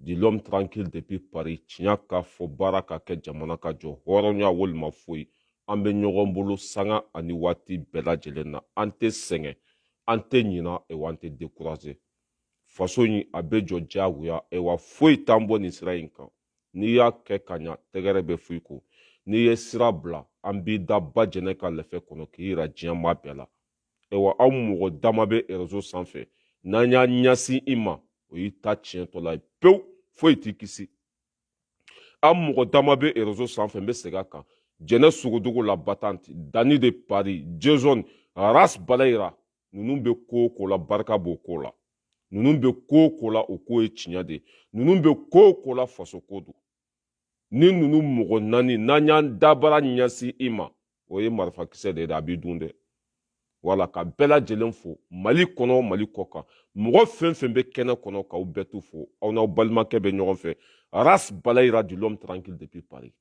dit l'homme tranquille depuis paris tiɲɛ ka fɔ baara ka kɛ jamana ka jɔ hɔrɔnya walima foyi an bɛ ɲɔgɔn bolo sanga ani waati bɛɛ lajɛlen na an tɛ sɛgɛn an tɛ ɲina ewa an tɛ dekuraze faso in a bɛ jɔ diyagoya ewa foyi t'an bɔ nin sira in kan n'i y'a kɛ ka ɲa tɛgɛrɛ bɛ fɔ i kɔ n'i ye sira bila an b'i da ba jɛnɛ ka lɛfɛ kɔnɔ k'i yira diɲɛ maa bɛɛ la ayiwa aw mɔgɔ dama bɛ rezo sanfɛ n'an y'a ɲɛsin i ma o y'i ta tiɲɛtɔla ye pewu foyi t'i kisi an mɔgɔ dama bɛ rezo sanfɛ n bɛ segin a kan jɛnɛ sogodogo la battante dani de paris jezɔn ras balayira ninnu bɛ ko o ko la barika b'o ko la ninnu bɛ ko o ko la o ko ye tiɲɛ de ye ninnu bɛ ko o ko la faso ko don ni ninnu mɔgɔ naani n'an y'an dabara ɲɛsin i ma o ye marifakisɛ de ye a b'i dun dɛ voilà ka bɛɛ lajɛlen fo mali kɔnɔ mali kɔ kan mɔgɔ fɛn fɛn bɛ kɛnɛ kɔnɔ k'aw bɛɛ tu fo aw n'aw balimakɛ bɛ ɲɔgɔn fɛ ras balayira dit l'homme tranquille depuis paris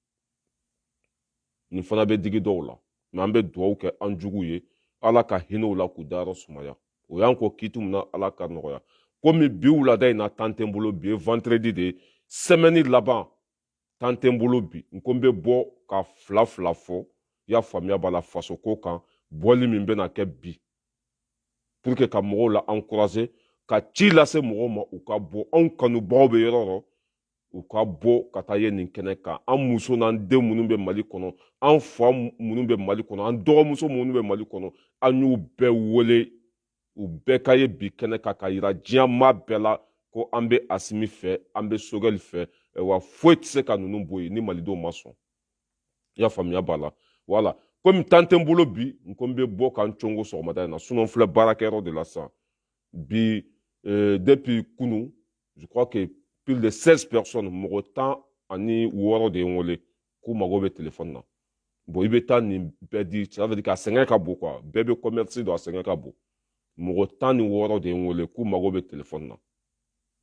nin fana bɛ digi dɔw la mais an bɛ dugawu kɛ an jugu ye ala ka hinɛ u la k'u dayɔrɔ sumaya o y'an kɔn kiiti min na ala ka nɔgɔya komi bi wulada in na tan tɛ n bolo bi ye vendredi de ye sɛmɛni laban tan tɛ n bolo bi n ko n bɛ bɔ ka fila fila fɔ i y'a faamuya b'a la faso ko kan bɔli min bɛna kɛ bi pour que ka mɔgɔw la encourager ka ci lase mɔgɔw ma u ka bɔ anw kanubagaw bɛ yɔrɔ yɔrɔ u ka bɔ ka taa ye nin kɛnɛ kan an muso n'an den minnu bɛ mali kɔnɔ an fa minnu bɛ mali kɔnɔ an dɔgɔmuso minnu bɛ mali kɔnɔ an y'u bɛɛ wele u bɛɛ ka ye bi kɛnɛ kan k'a yira diɲɛ maa bɛɛ la ko an bɛ asimi fɛ an bɛ sogɛli fɛ wa foyi tɛ se ka ninnu bɔ yen ni malidenw ma sɔn i y'a faamuya b'a la voilà komi tan tɛ n bolo bi n ko n bɛ bɔ ka n congo sɔgɔmada in na sinon n filɛ baarakɛyɔrɔ de la sisan bi eh, depuis kunu je crois que plus de 16 personnes mɔgɔ tan ani wɔɔrɔ de ye n wele k'u mago bɛ telefɔni na bon i bɛ taa nin bɛɛ di ça veut dire k'a sɛgɛn ka bon quoi bɛɛ bɛ commerce don a sɛgɛn ka bon mɔgɔ tan ni wɔɔrɔ de ye n wele k'u mago bɛ telefɔni na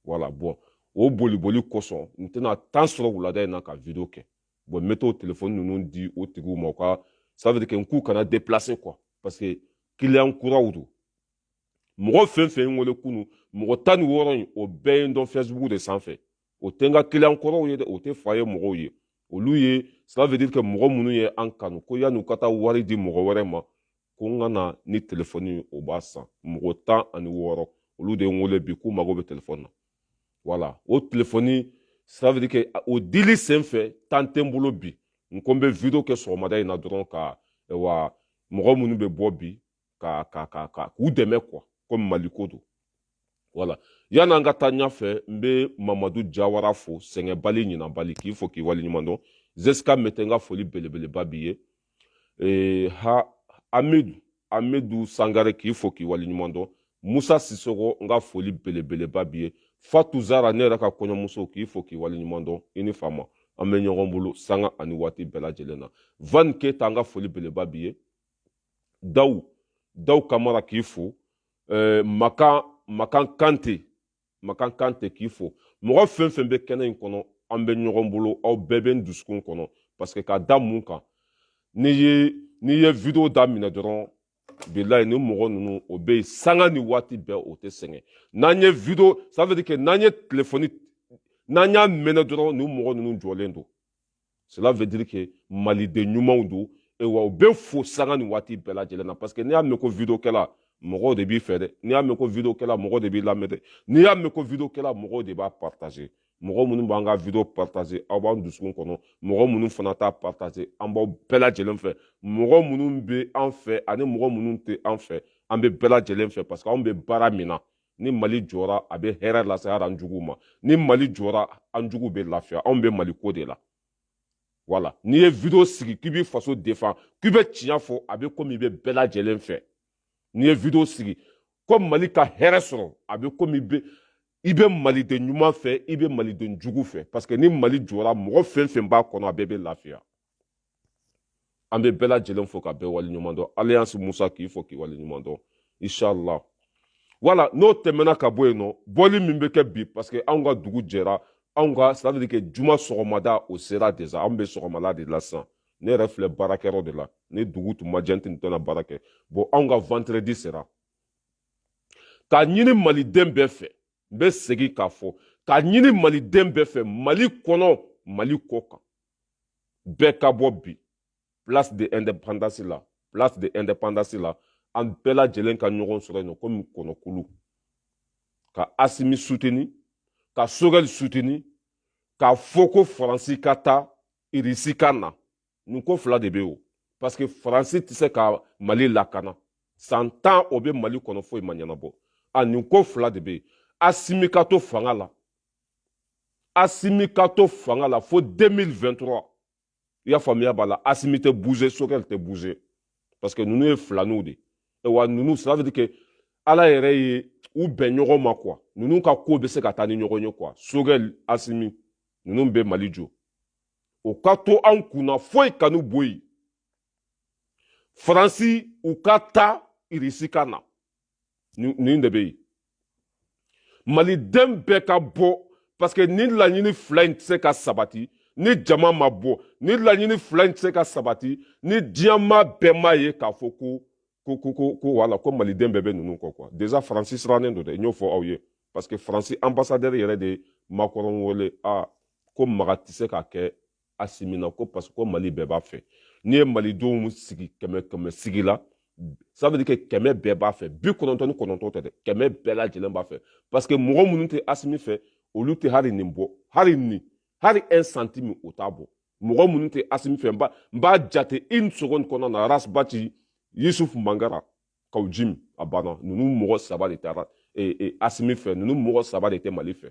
voilà bon o boli boli kosɔn n tɛna tan sɔrɔ wulada in na ka video kɛ bon n bɛ t'o telefɔni ninnu di o tigiw ma u ka ça veut dire que n k'u kana déplacer quoi parce que client kuraw don mɔgɔ fɛn fɛn ye n wele kunu mɔgɔ tan ni wɔɔrɔ in o bɛɛ ye n dɔn fɛsibuku de sanfɛ o tɛ n ka kiliyan kɔrɔw ye dɛ o tɛ foyer mɔgɔw ye olu ye cela veut dire que mɔgɔ minnu ye an kanu ko yan'u ka taa wari di mɔgɔ wɛrɛ ma ko n ka na ni telefɔni ye o b'a san mɔgɔ tan ani wɔɔrɔ olu de ye n wele bi k'u mago bɛ telefɔni na voilà o telefɔni cela veut dire que o dili sen fɛ tan tɛ n bolo bi n ko n bɛ video kɛ sɔgɔmada in na dɔrɔn ka wa mɔgɔ minnu bɛ bɔ bi ka ka ka ka k'u dɛmɛ quoi komi maliko don voilà yanni an ka taa ɲɛfɛ n bɛ mamadu jawara fo sɛgɛnbali ɲinanbali k'i fo k'i waleɲuman dɔn zeska mete n ka foli belebeleba b'i ye ee, ha amidu amidu sangare k'i fo k'i waleɲuman dɔn musa sisoko n ka foli belebeleba b'i ye fatu zara ne yɛrɛ ka kɔɲɔmuso k'i fo k'i waleɲuman dɔn i ni fama an bɛ ɲɔgɔn bolo sanga ani waati bɛɛ lajɛlen na van keyita n ka foli belebeleba b'i ye daw daw kamara k'i fo eh, makan makan kante makan kante k'i fo mɔgɔ fɛn fɛn bɛ kɛnɛ in kɔnɔ an bɛ ɲɔgɔn bolo aw bɛɛ bɛ n dusukun kɔnɔ parce que ka da mun kan n'i ye n'i ye video daminɛ dɔrɔn bilayi nin mɔgɔ ninnu o bɛ yen sanga ni waati bɛɛ o tɛ sɛgɛn n'an ye video ça veut dire que n'an ye telefɔni n'an y'a mɛnɛ dɔrɔn nin mɔgɔ ninnu jɔlen don cela veut dire que maliden ɲumanw don wa u bɛ fo sanga ni waati bɛɛ lajɛlen na parce que n'i y'a mɛn ko video kɛla mɔgɔw de b'i fɛ dɛ n'i y'a mɛn ko video kɛla mɔgɔw de b'i lamɛn dɛ n'i y'a mɛn ko video kɛla mɔgɔw de b'a partager mɔgɔ minnu b'an ka video partager aw b'an dusukun kɔnɔ mɔgɔ minnu fana t'a partager an b'aw bɛɛ lajɛlen fɛ mɔgɔ minnu bɛ an fɛ ani mɔgɔ minnu tɛ an fɛ an bɛ bɛɛ lajɛlen fɛ parce que anw bɛ baara min na ni mali jɔra a bɛ hɛrɛ lase hali an juguw ma ni mali jɔra an juguw bɛ lafiya anw bɛ mali ko de la voilà n'i ye video sigi k'i b'i faso défend k'i bɛ tiɲɛ fɔ a bɛ komi i bɛ bɛɛ lajɛlen fɛ n'i ye video sigi ko mali ka hɛrɛ sɔrɔ a bɛ komi bɛ i bɛ maliden ɲuman fɛ i bɛ maliden jugu fɛ parce que ni mali jɔra mɔgɔ fɛn fɛn b'a kɔnɔ a bɛɛ bɛ lafiya an bɛ bɛɛ lajɛlen fo ka bɛɛ waleɲuman dɔn alliance musa k'i fo k'i waleɲuman dɔn inshallah voilà n'o tɛmɛna ka bɔ yen nɔ bɔli min bɛ kɛ bi parce que anw ka dugu jɛra anw ka c'est à dire que juma sɔgɔmada o sera déjà anw bɛ sɔgɔmada de la sisan ne yɛrɛ filɛ baarakɛyɔrɔ de la ni dugu tun ma jɛ n tun tɛna baara kɛ bon anw ka vendredi sera k'a ɲini maliden bɛɛ fɛ n bɛ segin k'a fɔ k'a ɲini maliden bɛɛ fɛ mali kɔnɔ mali kɔ kan bɛɛ ka bɔ bi place de indépendance la place de indépendance la an bɛɛ lajɛlen ka ɲɔgɔn sɔrɔ yen nɔ komi kɔnɔkulu ka asimi soutenir ka sogɛli soutenir k'a fɔ ko faransi ka taa irisi ka na nin ko fila de bɛ o parce que faransi tɛ se ka mali lakana san tan o bɛ mali kɔnɔ foyi ma ɲɛnabɔ a nin ko fila de bɛ yen asimi ka to fanga la asimi ka to fanga la fo 2023 i y'a faamuya b'a la asimi tɛ bouger sogɛl tɛ bouger parce que ninnu ye filaniw de ye wa ninnu ça veut dire que ala yɛrɛ ye u bɛn ɲɔgɔn ma quoi ninnu ka ko bɛ se ka taa ni ɲɔgɔn ye quoi sogɛl asimi ninnu bɛ mali jɔ u ka to anw kunna foyi kan'u bɔ yen faransi u ka taa irisi ka na nin de bɛ yen maliden bɛɛ ka bɔ parce que ni laɲini fila in tɛ se ka sabati ni jama ma bɔ ni laɲini fila in tɛ se ka sabati ni diɲɛ maa bɛɛ m'a ye k'a fɔ ko ko ko ko ko wala ko maliden bɛɛ bɛ ninnu kɔ quoi déjà faransi sirannen don dɛ n y'o fɔ aw ye parce que faransi ambassadeur yɛrɛ de ye makɔrɔn wele a ko maga tɛ se ka kɛ asimi na ko parce que ko mali bɛɛ b'a fɛ n'i ye malidenw sigi kɛmɛ kɛmɛ sigi la ça veut dire que kɛmɛ bɛɛ b'a fɛ bi kɔnɔntɔn ni kɔnɔntɔn tɛ dɛ kɛmɛ bɛɛ lajɛlen b'a fɛ parce que mɔgɔ minnu tɛ asimi fɛ olu tɛ hali nin bɔ hali nin hali un centime o t'a bɔ mɔgɔ minnu tɛ asimi fɛ n b'a n b'a jate une seconde kɔnɔna na rasbati yusuf mangara kaw jim a banna ninnu mɔgɔ saba de tɛ asimi fɛ ninnu mɔgɔ saba de tɛ mali fɛ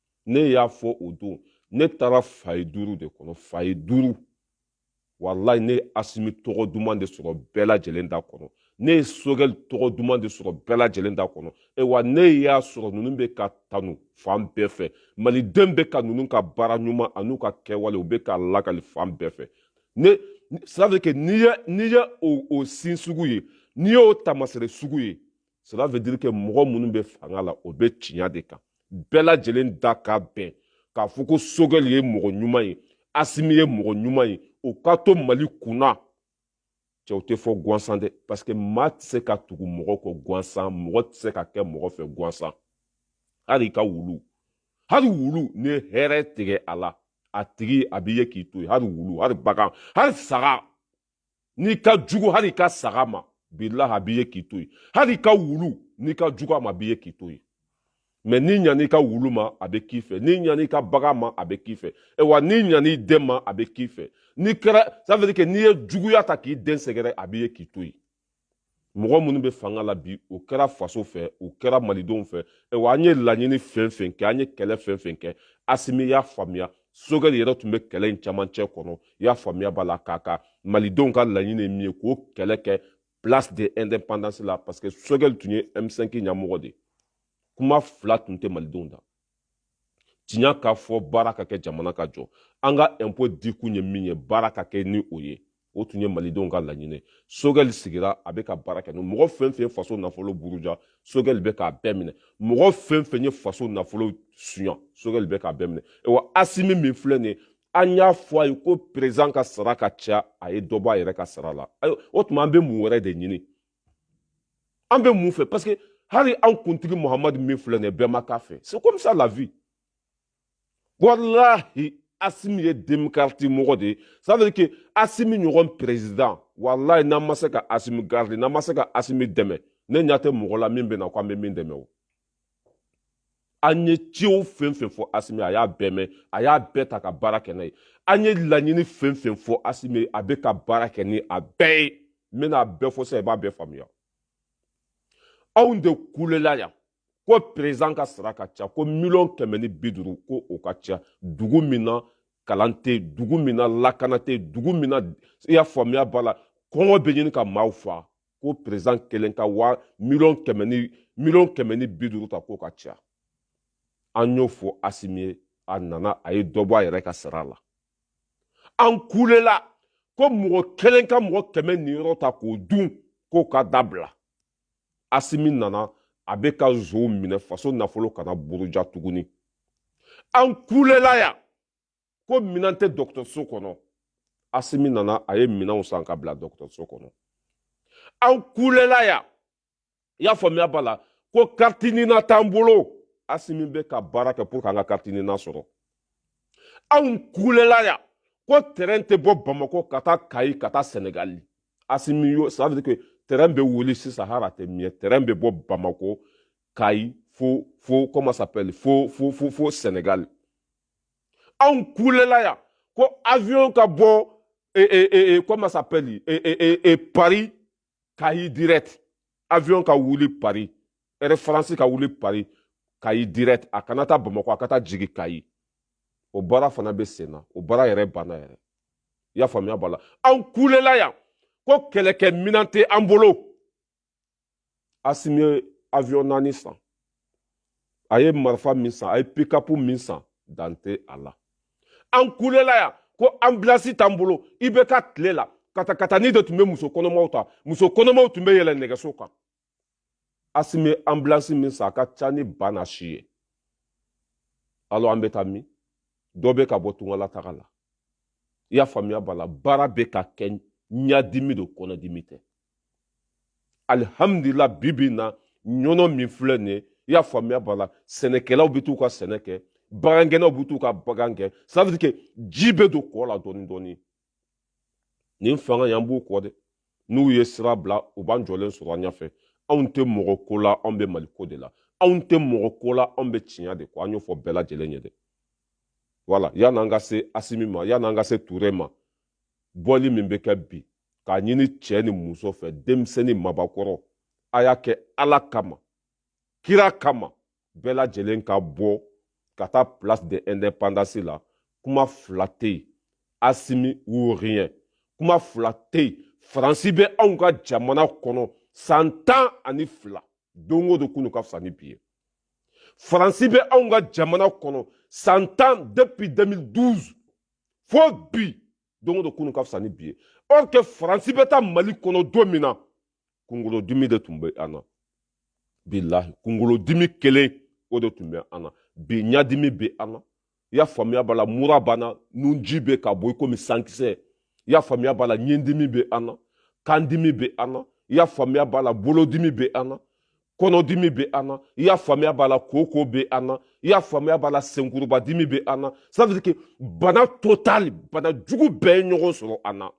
ne y'a fɔ o don ne taara foyer duuru de kɔnɔ foyer duuru walayi ne ye asimi tɔgɔ duman de sɔrɔ bɛɛ lajɛlen da kɔnɔ ne ye sogɛli tɔgɔ duman de sɔrɔ bɛɛ lajɛlen da kɔnɔ wa ne y'a sɔrɔ ninnu bɛ ka tanu fan bɛɛ fɛ maliden bɛ ka ninnu ka baara ɲuman an'u ka kɛwale u bɛ k'a lakali fan bɛɛ fɛ ça veut dire que n'i ye n'i ye o o signe sugu ye n'i y'o tamasere sugu ye cela veut dire que mɔgɔ minnu bɛ fanga la o bɛ tiɲɛ de kan bɛɛ lajɛlen da ka bɛn k'a fɔ ko sogɛli ye mɔgɔ ɲuman ye asimi ye mɔgɔ ɲuman ye o ka to mali kunna cɛ o tɛ fɔ gansan dɛ parce que maa tɛ se ka tugu mɔgɔ kɔ gansan mɔgɔ tɛ se ka kɛ mɔgɔ fɛ gansan hali i ka wulu hali wulu n'i ye hɛrɛ tigɛ a la a tigi a b'i ye k'i to yen hali wulu hali bagan hali saga n'i ka jugu hali i ka saga ma bilahi a b'i ye k'i to yen hali i ka wulu n'i ka jugu a ma a b'i ye k'i to yen mais n'i ɲan'i ka wulu ma a bɛ k'i fɛ n'i ɲan'i ka bagan ma a bɛ k'i fɛ e wa n'i ɲan'i den ma a bɛ k'i fɛ n'i kɛra ça veut dire que n'i ye juguya ta k'i den sɛgɛrɛ a b'i ye k'i to yen mɔgɔ minnu bɛ fanga la bi o kɛra faso fɛ o kɛra malidenw fɛ wa an ye laɲini fɛn fɛn kɛ an ye kɛlɛ fɛn fɛn kɛ asimi y'a faamuya sogɛli yɛrɛ tun bɛ kɛlɛ in camancɛ kɔnɔ i y'a faamuya b'a la k'a ka malidenw ka laɲini ye min ye k'o kɛlɛ kɛ place de indépendance la parce que sogɛli tun ye m5 ɲɛmɔgɔ de ye kuma fila tun tɛ malidenw da tiɲɛ ka fɔ baara ka kɛ jamana ka jɔ an ka ɛnpo dikun ye min ye baara ka kɛ ni o ye o tun ye malidenw ka laɲini sogɛli sigira a bɛ ka baara kɛ mɔgɔ fɛn fɛn ye faso nafolo buruja sogɛli bɛ k'a bɛɛ minɛ mɔgɔ fɛn fɛn ye faso nafolo suɲa sogɛli bɛ k'a bɛɛ minɛ wa asimi min filɛ nin ye an y'a fɔ a ye ko perezan ka sara ka ca a ye dɔ bɔ a yɛrɛ ka sara la o tuma an bɛ mun wɛrɛ de ɲini an bɛ mun fɛ parce que hali an kuntigi muhamadu min filɛ nin ye bɛɛ ma k'a fɛ c'est comme ça la vie walahi asimi ye demokarati mɔgɔ de ye ça veut dire que asimi ɲɔgɔn président walahi n'an ma se ka asimi garder n'an ma se ka asimi dɛmɛ ne ɲɛ tɛ mɔgɔ la min bɛ na ko an bɛ min dɛmɛ o an ye ciw fɛn fɛn fɔ asimi a y'a bɛɛ mɛn a y'a bɛɛ ta ka baara kɛ n'a ye an ye laɲini fɛn fɛn fɔ asimi a bɛ ka baara kɛ ni a bɛɛ ye n bɛna a bɛɛ fɔ sisan i b'a bɛɛ faamuya anw de kulela yan ko perezan ka sara ka ca ko miliyɔn kɛmɛ ni bi duuru ko o ka ca dugu min na kalan tɛ yen dugu min na lakana tɛ yen dugu min na i y'a faamuya b'a la kɔngɔ bɛ ɲini ka maaw fa ko perezan kelen ka waa miliyɔn kɛmɛ ni bi duuru ta k'o ka ca an y'o fɔ asimi ye a nana a ye dɔ bɔ a yɛrɛ ka sara la an kulela ko mɔgɔ kelen ka mɔgɔ kɛmɛ niyɔrɔ ta k'o dun k'o ka dabila asimi nana a bɛ ka nsonw minɛ faso nafolo kana buruja tuguni an kulela yan ko minɛn tɛ dɔgɔtɔrɔso kɔnɔ asimi nana a ye minɛnw san ka bila dɔgɔtɔrɔso kɔnɔ an kulela yan i y'a faamuya b'a la ko carte nina t'an bolo asimi bɛ ka baara kɛ pour que an ka carte nina sɔrɔ anw kulela yan ko tɛrɛn tɛ bɔ bamakɔ ka taa kayi ka taa sɛnɛgali asimi yo ça veut dire que tɛrɛn bɛ wuli sisan hali a tɛ miɲɛ tɛrɛn bɛ bɔ bamakɔ kayi fo fo comment s'appelle fo fo fo fo sɛnɛgali anw kulela yan ko avion ka bɔ e, e, e, e, comment s'appelle e, e, e, e, paris kayi direct avion ka wuli paris air france ka wuli paris kayi direct a kana taa bamakɔ a ka taa jigi kayi o baara fana bɛ sen na o baara yɛrɛ banna yɛrɛ i y'a faamuya b'a la anw kulela yan ko kɛlɛkɛ minan tɛ an bolo asimi ye avion naani san a ye marifa min san a ye pikapu min san dan tɛ a la an kulela yan ko anbilasi t'an bolo ibk tile la katakatani de tun bɛ muso kɔnɔmaw ta muso kɔnɔmaw tun bɛ yɛlɛ nɛgɛso kan asimi ye anbilasi min san a ka ca ni ba n'a si ye alors an bɛ taa min dɔ bɛ ka bɔ tungala taga la i y'a faamuya b'a la baara bɛ ka kɛ ɲadimi don kɔnɔdimi tɛ alihamudulila bi bi in na yɔrɔ min filɛ nin ye i y'a faamuya b'a la sɛnɛkɛlaw bɛ t'u ka sɛnɛ kɛ bagangɛnnaw bɛ t'u ka bagan gɛn ça veut dire que ji bɛ don kɔ la dɔɔni dɔɔni nin fanga y'an b'u kɔ dɛ n'u ye sira bila u b'an jɔlen sɔrɔ an ɲɛfɛ anw tɛ mɔgɔ ko la anw bɛ mali ko de la anw tɛ mɔgɔ ko la anw bɛ tiɲɛ de kɔ an y'o fɔ bɛɛ lajɛlen ye dɛ voilà yan'an ka se asimi ma yan'an ka se ture ma bɔli min bɛ kɛ bi k'a ɲini cɛ ni muso fɛ denmisɛnnin mabakɔrɔ a y'a kɛ ala kama kira kama bɛɛ lajɛlen ka bɔ ka taa place de indépendance la kuma fila tɛ yen asimi ou rien kuma fila tɛ yen faransi bɛ anw ka jamana kɔnɔ san tan ani fila don o don kunu ka fisa ni bi ye faransi bɛ anw ka jamana kɔnɔ san tan depuis 2012 fo bi don o don kunu ka fisa ni bi ye or que faransi bɛ taa mali kɔnɔ don min na kunkolodimi de tun bɛ an na bilahi kunkolodimi kelen o de tun bɛ an na bi ɲadimi bɛ an na i y'a faamuya b'a la mura b'an na nunji bɛ ka bɔ i komi sankisɛ i y'a faamuya b'a la ɲindimi bɛ an na kandimi bɛ an na i y'a faamuya b'a la bolodimi bɛ an na kɔnɔdimi bɛ an na i y'a faamuya b'a la koko bɛ an na i y'a faamuya b'a la senkuruba dimi bɛ an na ça veut dire que bana total bana jugu bɛɛ ye ɲɔgɔn sɔrɔ an na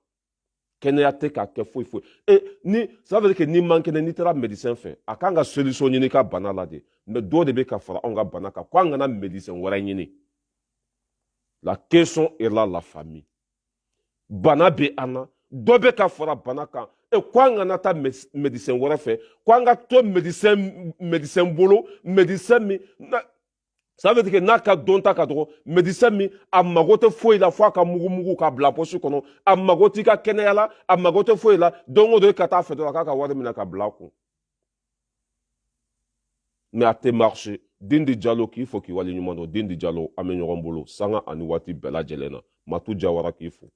kɛnɛya tɛ ka kɛ foyi foyi e ni ça veut dire que n'i man kɛnɛ n'i taara médecin fɛ a kan ka solution ɲini i ka bana la de mais dɔ de bɛ ka fara anw ka bana kan ko an kana médecin wɛrɛ ɲini la question est là la famille bana bɛ an na dɔ bɛ ka fara bana kan e ko an kana taa médecin wɛrɛ fɛ ko an ka to médecin médecin bolo médecin min na ça veut dire n'a ka dɔnta ka dɔgɔ médecin min a mago tɛ foyi la fo a ka mugumugu k'a bila poche kɔnɔ a mago t'i ka kɛnɛya la a mago tɛ foyi la don o don e ka taa a fɛ dɔrɔn a k'a ka wari minɛ k'a bila a kun mais a tɛ marché dindi jalo k'i fo k'i waleɲuman dɔn dindi jalo an bɛ ɲɔgɔn bolo sanga ani waati bɛɛ lajɛlen na matu jawara k'i fo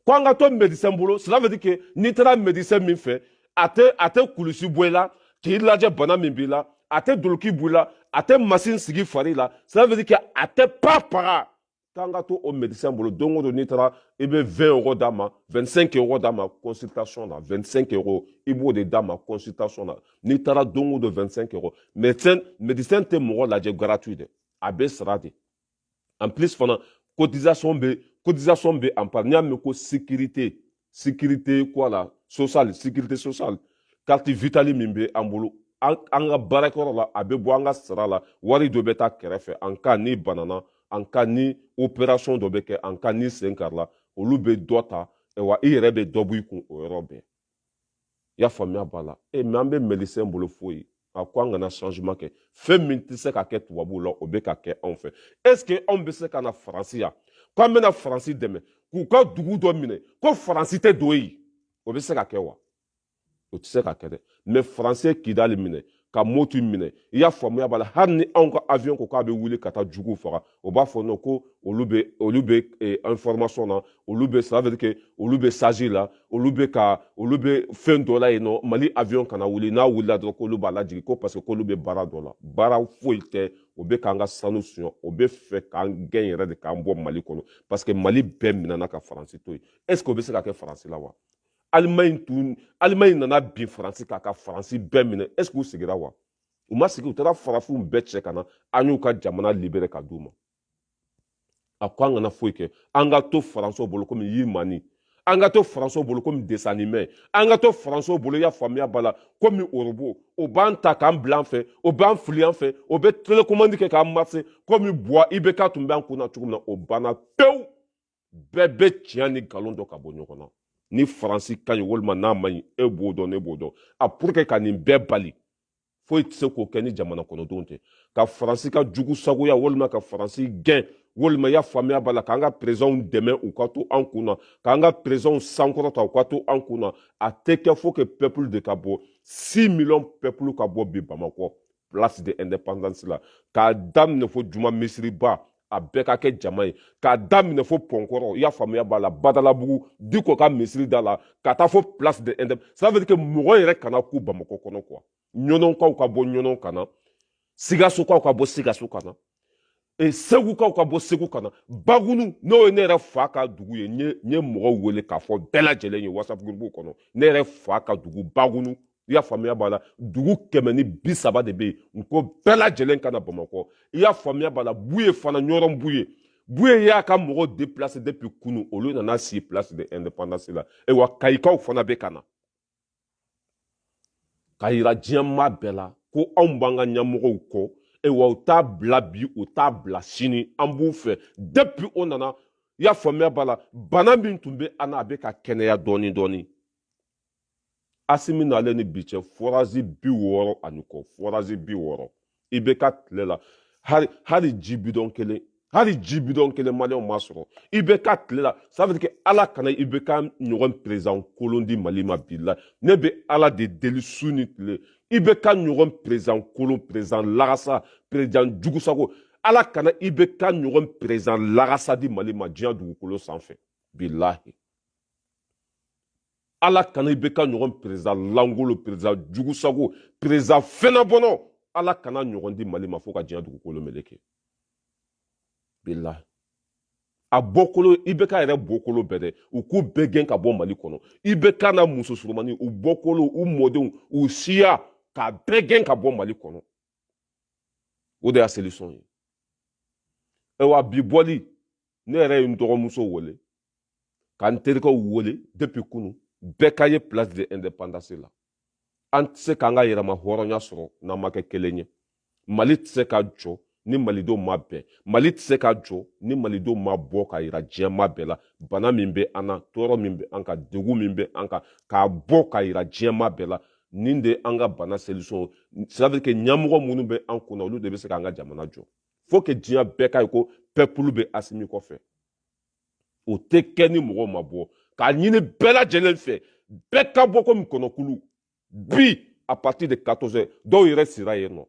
ko an ka to médecin bolo cela veut dire que n'i taara médecin min fɛ a tɛ a tɛ kulusi bɔ i la k'i lajɛ bana min b'i la a tɛ doloki bɔ i la a tɛ masin sigi i fari la cela veut dire que a tɛ pa paga k'an ka to o médecin bolo don o don n'i taara i bɛ 20 euro d'a ma 25 euro d'a ma consultation na 25 euro i b'o de d'a ma consultation na n'i taara don o don 25 euro médecin médecin tɛ mɔgɔ lajɛ gratuit dɛ a bɛ sara de en plus fana cotisation bɛ cotisation bɛ à part n'i y'a mɛn ko sécurité sécurité quoi la social sécurité sociale carte vitale min bɛ an bolo an ka baarakɛyɔrɔ la a bɛ bɔ an ka sara la wari dɔ bɛ taa kɛrɛfɛ en cas n'i banana en cas ni opération dɔ bɛ kɛ en cas n'i sen karila olu bɛ dɔ ta wa i yɛrɛ bɛ dɔ bɔ i kun o yɔrɔ bɛɛ i y'a faamuya b'a la mais an bɛ médecin bolo foyi a ko an kana changement kɛ fɛn min tɛ se ka kɛ tubabuw la o bɛ ka kɛ anw fɛ est ce que anw bɛ se ka na faransi yan k'an bɛna faransi dɛmɛ k'u ka dugu dɔ minɛ ko faransi tɛ don yen o bɛ se ka kɛ wa o tɛ se ka kɛ dɛ mais faransi ye kidali minɛ ka mɔti minɛ i y'a faamuya b'a la hali ni anw ka avion ko k'a bɛ wuli ka taa juguw faga o b'a fɔ non ko olu bɛ olu bɛ eh, information na olu bɛ ça veut dire que olu bɛ stage la olu bɛ ka olu bɛ fɛn dɔ la yen non mali avion kana wuli n'a wulila dɔrɔn k'olu b'a lajigin ko parce que k'olu bɛ baara dɔ la baara foyi tɛ o bɛ k'an ka sanu suɲɛ o bɛ fɛ k'an gɛn yɛrɛ de k'an bɔ mali kɔnɔ parce que mali bɛɛ minɛna ka faransi to yen est ce que o bɛ se ka kɛ faransi la wa alimaɲi tun alimaɲi nana bin faransi kan ka faransi bɛɛ minɛ est ce que u sigira wa u ma sigi u taara farafinw bɛɛ cɛ ka na an y'u ka jamana libéré ka d'u ma a ko an kana foyi kɛ an ka to faransiw bolo komi yirimani an ka to faransiw bolo komi dessin animé an ka to faransiw bolo i y'a faamuya b'a la komi orobo o b'an ta k'an bila yan fɛ o b'an fili yan fɛ o bɛ télécommande kɛ k'an marché komi buwa ibk tun bɛ an kun na cogo min na o banna pewu bɛɛ bɛ tiɲɛ ni nkalon dɔn ka bɔ ɲɔgɔn na ni faransi ka ɲi walima n'a man ɲi e b'o dɔn ne b'o dɔn a pour que ka nin bɛɛ bali foyi tɛ se k'o kɛ ni jamana kɔnɔdenw tɛ ka faransi ka jugu sagoya walima ka faransi gɛn walima i y'a faamuya b'a la k'an ka perezidanw dɛmɛ u ka to an kun na k'an ka perezidanw sankɔrɔta u ka to an kun na a tɛ kɛ faut que peuple de ka bɔ six millions peuple ka bɔ bi bamakɔ place de indépendance la k'a daminɛ fo juma misiriba a bɛɛ ka kɛ jama ye k'a daminɛ fo pɔnkɔrɔ i y'a faamuya b'a la badalabugu diko ka misiri da la ka taa fo place de indép ça veut dire que mɔgɔ yɛrɛ kana kun bamakɔ kɔnɔ quoi ɲɔnɔnkaw ka bɔ ɲɔnɔn ka na sigasokaw ka bɔ sigaso ka na e, segukaw ka bɔ segu ka na bagunu n'o ye ne yɛrɛ fa ka dugu ye n ye mɔgɔw wele k'a fɔ bɛɛ lajɛlen ye whatsapp gurupu kɔnɔ ne yɛrɛ fa ka dugu bagunu i y'a faamuya b'a la dugu kɛmɛ ni bi saba de bɛ yen n ko bɛɛ lajɛlen ka na bamakɔ i y'a faamuya b'a la buye fana ɲɔrɔn buye buye y'a ka mɔgɔw déplacé depuis kunu olu nana si place de indépendance la e wa kayikaw fana bɛ ka na k'a yira diɲɛmaa bɛɛ la ko anw b'an ka ɲɛmɔgɔw kɔ wa u t'a bila bi u t'a bila sini an b'u fɛ depuis o nana i y'a faamuya b'a la bana min tun bɛ an na a bɛ ka kɛnɛya dɔɔnin dɔɔnin asimi nalen ni bi cɛ fɔrazi bi wɔɔrɔ ani kɔ fɔrazi bi wɔɔrɔ ibk tile la hali hali ji bidɔn kelen hali ji bidɔn kelen maliyɛnw ma sɔrɔ ibk tile la ça veut dire que ala kana ibk ɲɔgɔn président kolon di mali ma bi la ne bɛ ala de deli su ni tile ibk ɲɔgɔn président kolon président lagasa président jugusago ala kana ibk ɲɔgɔn président lagasa di mali ma diɲɛ dugukolo sanfɛ bilahi ala kana ibk ɲɔgɔn président langolo président jugusago président fɛnabɔnɔ ala kana ɲɔgɔn di mali ma fo ka diɲɛ dugukolo meleke bilahi a bɔkolo ibk yɛrɛ bɔkolo bɛɛ dɛ u k'u bɛɛ gɛn ka bɔ mali kɔnɔ ibk n'a muso surumani u bɔkolo u mɔdenw u siya k'a bɛɛ gɛn ka bɔ mali kɔnɔ o de y'a solution ye ayiwa bi bɔli ne yɛrɛ ye n dɔgɔmuso wele ka n terikɛw wele depuis kunu bɛɛ ka ye place de indépendance la an tɛ se k'an ka yɛrɛma hɔrɔnya sɔrɔ n'an ma kɛ kelen ye mali tɛ se ka jɔ ni malidenw ma bɛn mali tɛ se ka jɔ ni malidenw ma bɔ k'a yira diɲɛmaa bɛɛ la bana min bɛ an na tɔɔrɔ min bɛ an kan degun min bɛ an kan k'a bɔ k'a yira diɲɛmaa bɛɛ la nin de an ka bana solution c'est que ɲɛmɔgɔ minnu bɛ an kunna olu de bɛ se k'an ka jamana jɔ faut que diɲɛ bɛɛ k'a ye ko peuple bɛ asimi kɔfɛ o tɛ kɛ ni mɔgɔw ma bɔ k'a ɲini bɛɛ lajɛlen fɛ bɛɛ ka bɔ komi kɔnɔkulu bi à partir de 14 heures dɔw yɛrɛ sira yen nɔ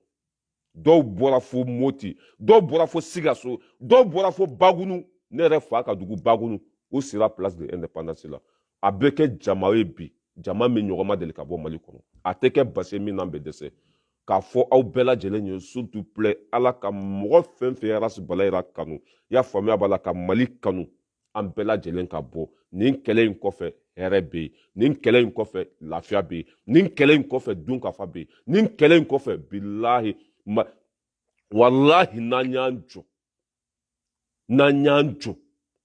dɔw bɔra fo moti dɔw bɔra fo sigaso dɔw bɔra fo bagunu ne yɛrɛ fa ka dugu bagunu o sira place de indépendance la a bɛ kɛ jama ye bi jama min ɲɔgɔn ma deli ka bɔ mali kɔnɔ a tɛ kɛ base min na an bɛ dɛsɛ k'a fɔ aw bɛɛ lajɛlen ye s'il vous plaît ala ka mɔgɔ fɛn fɛn arasi bala yira kanu y'a faamuya b'a la ka mali kanu an bɛɛ lajɛlen ka bɔ nin kɛlɛ in kɔfɛ hɛrɛ bɛ yen nin kɛlɛ in kɔfɛ lafiya bɛ yen nin kɛlɛ in kɔfɛ dunkafa bɛ yen nin kɛlɛ in kɔfɛ bilahi walahi n'an y'an jɔ n'an y'an jɔ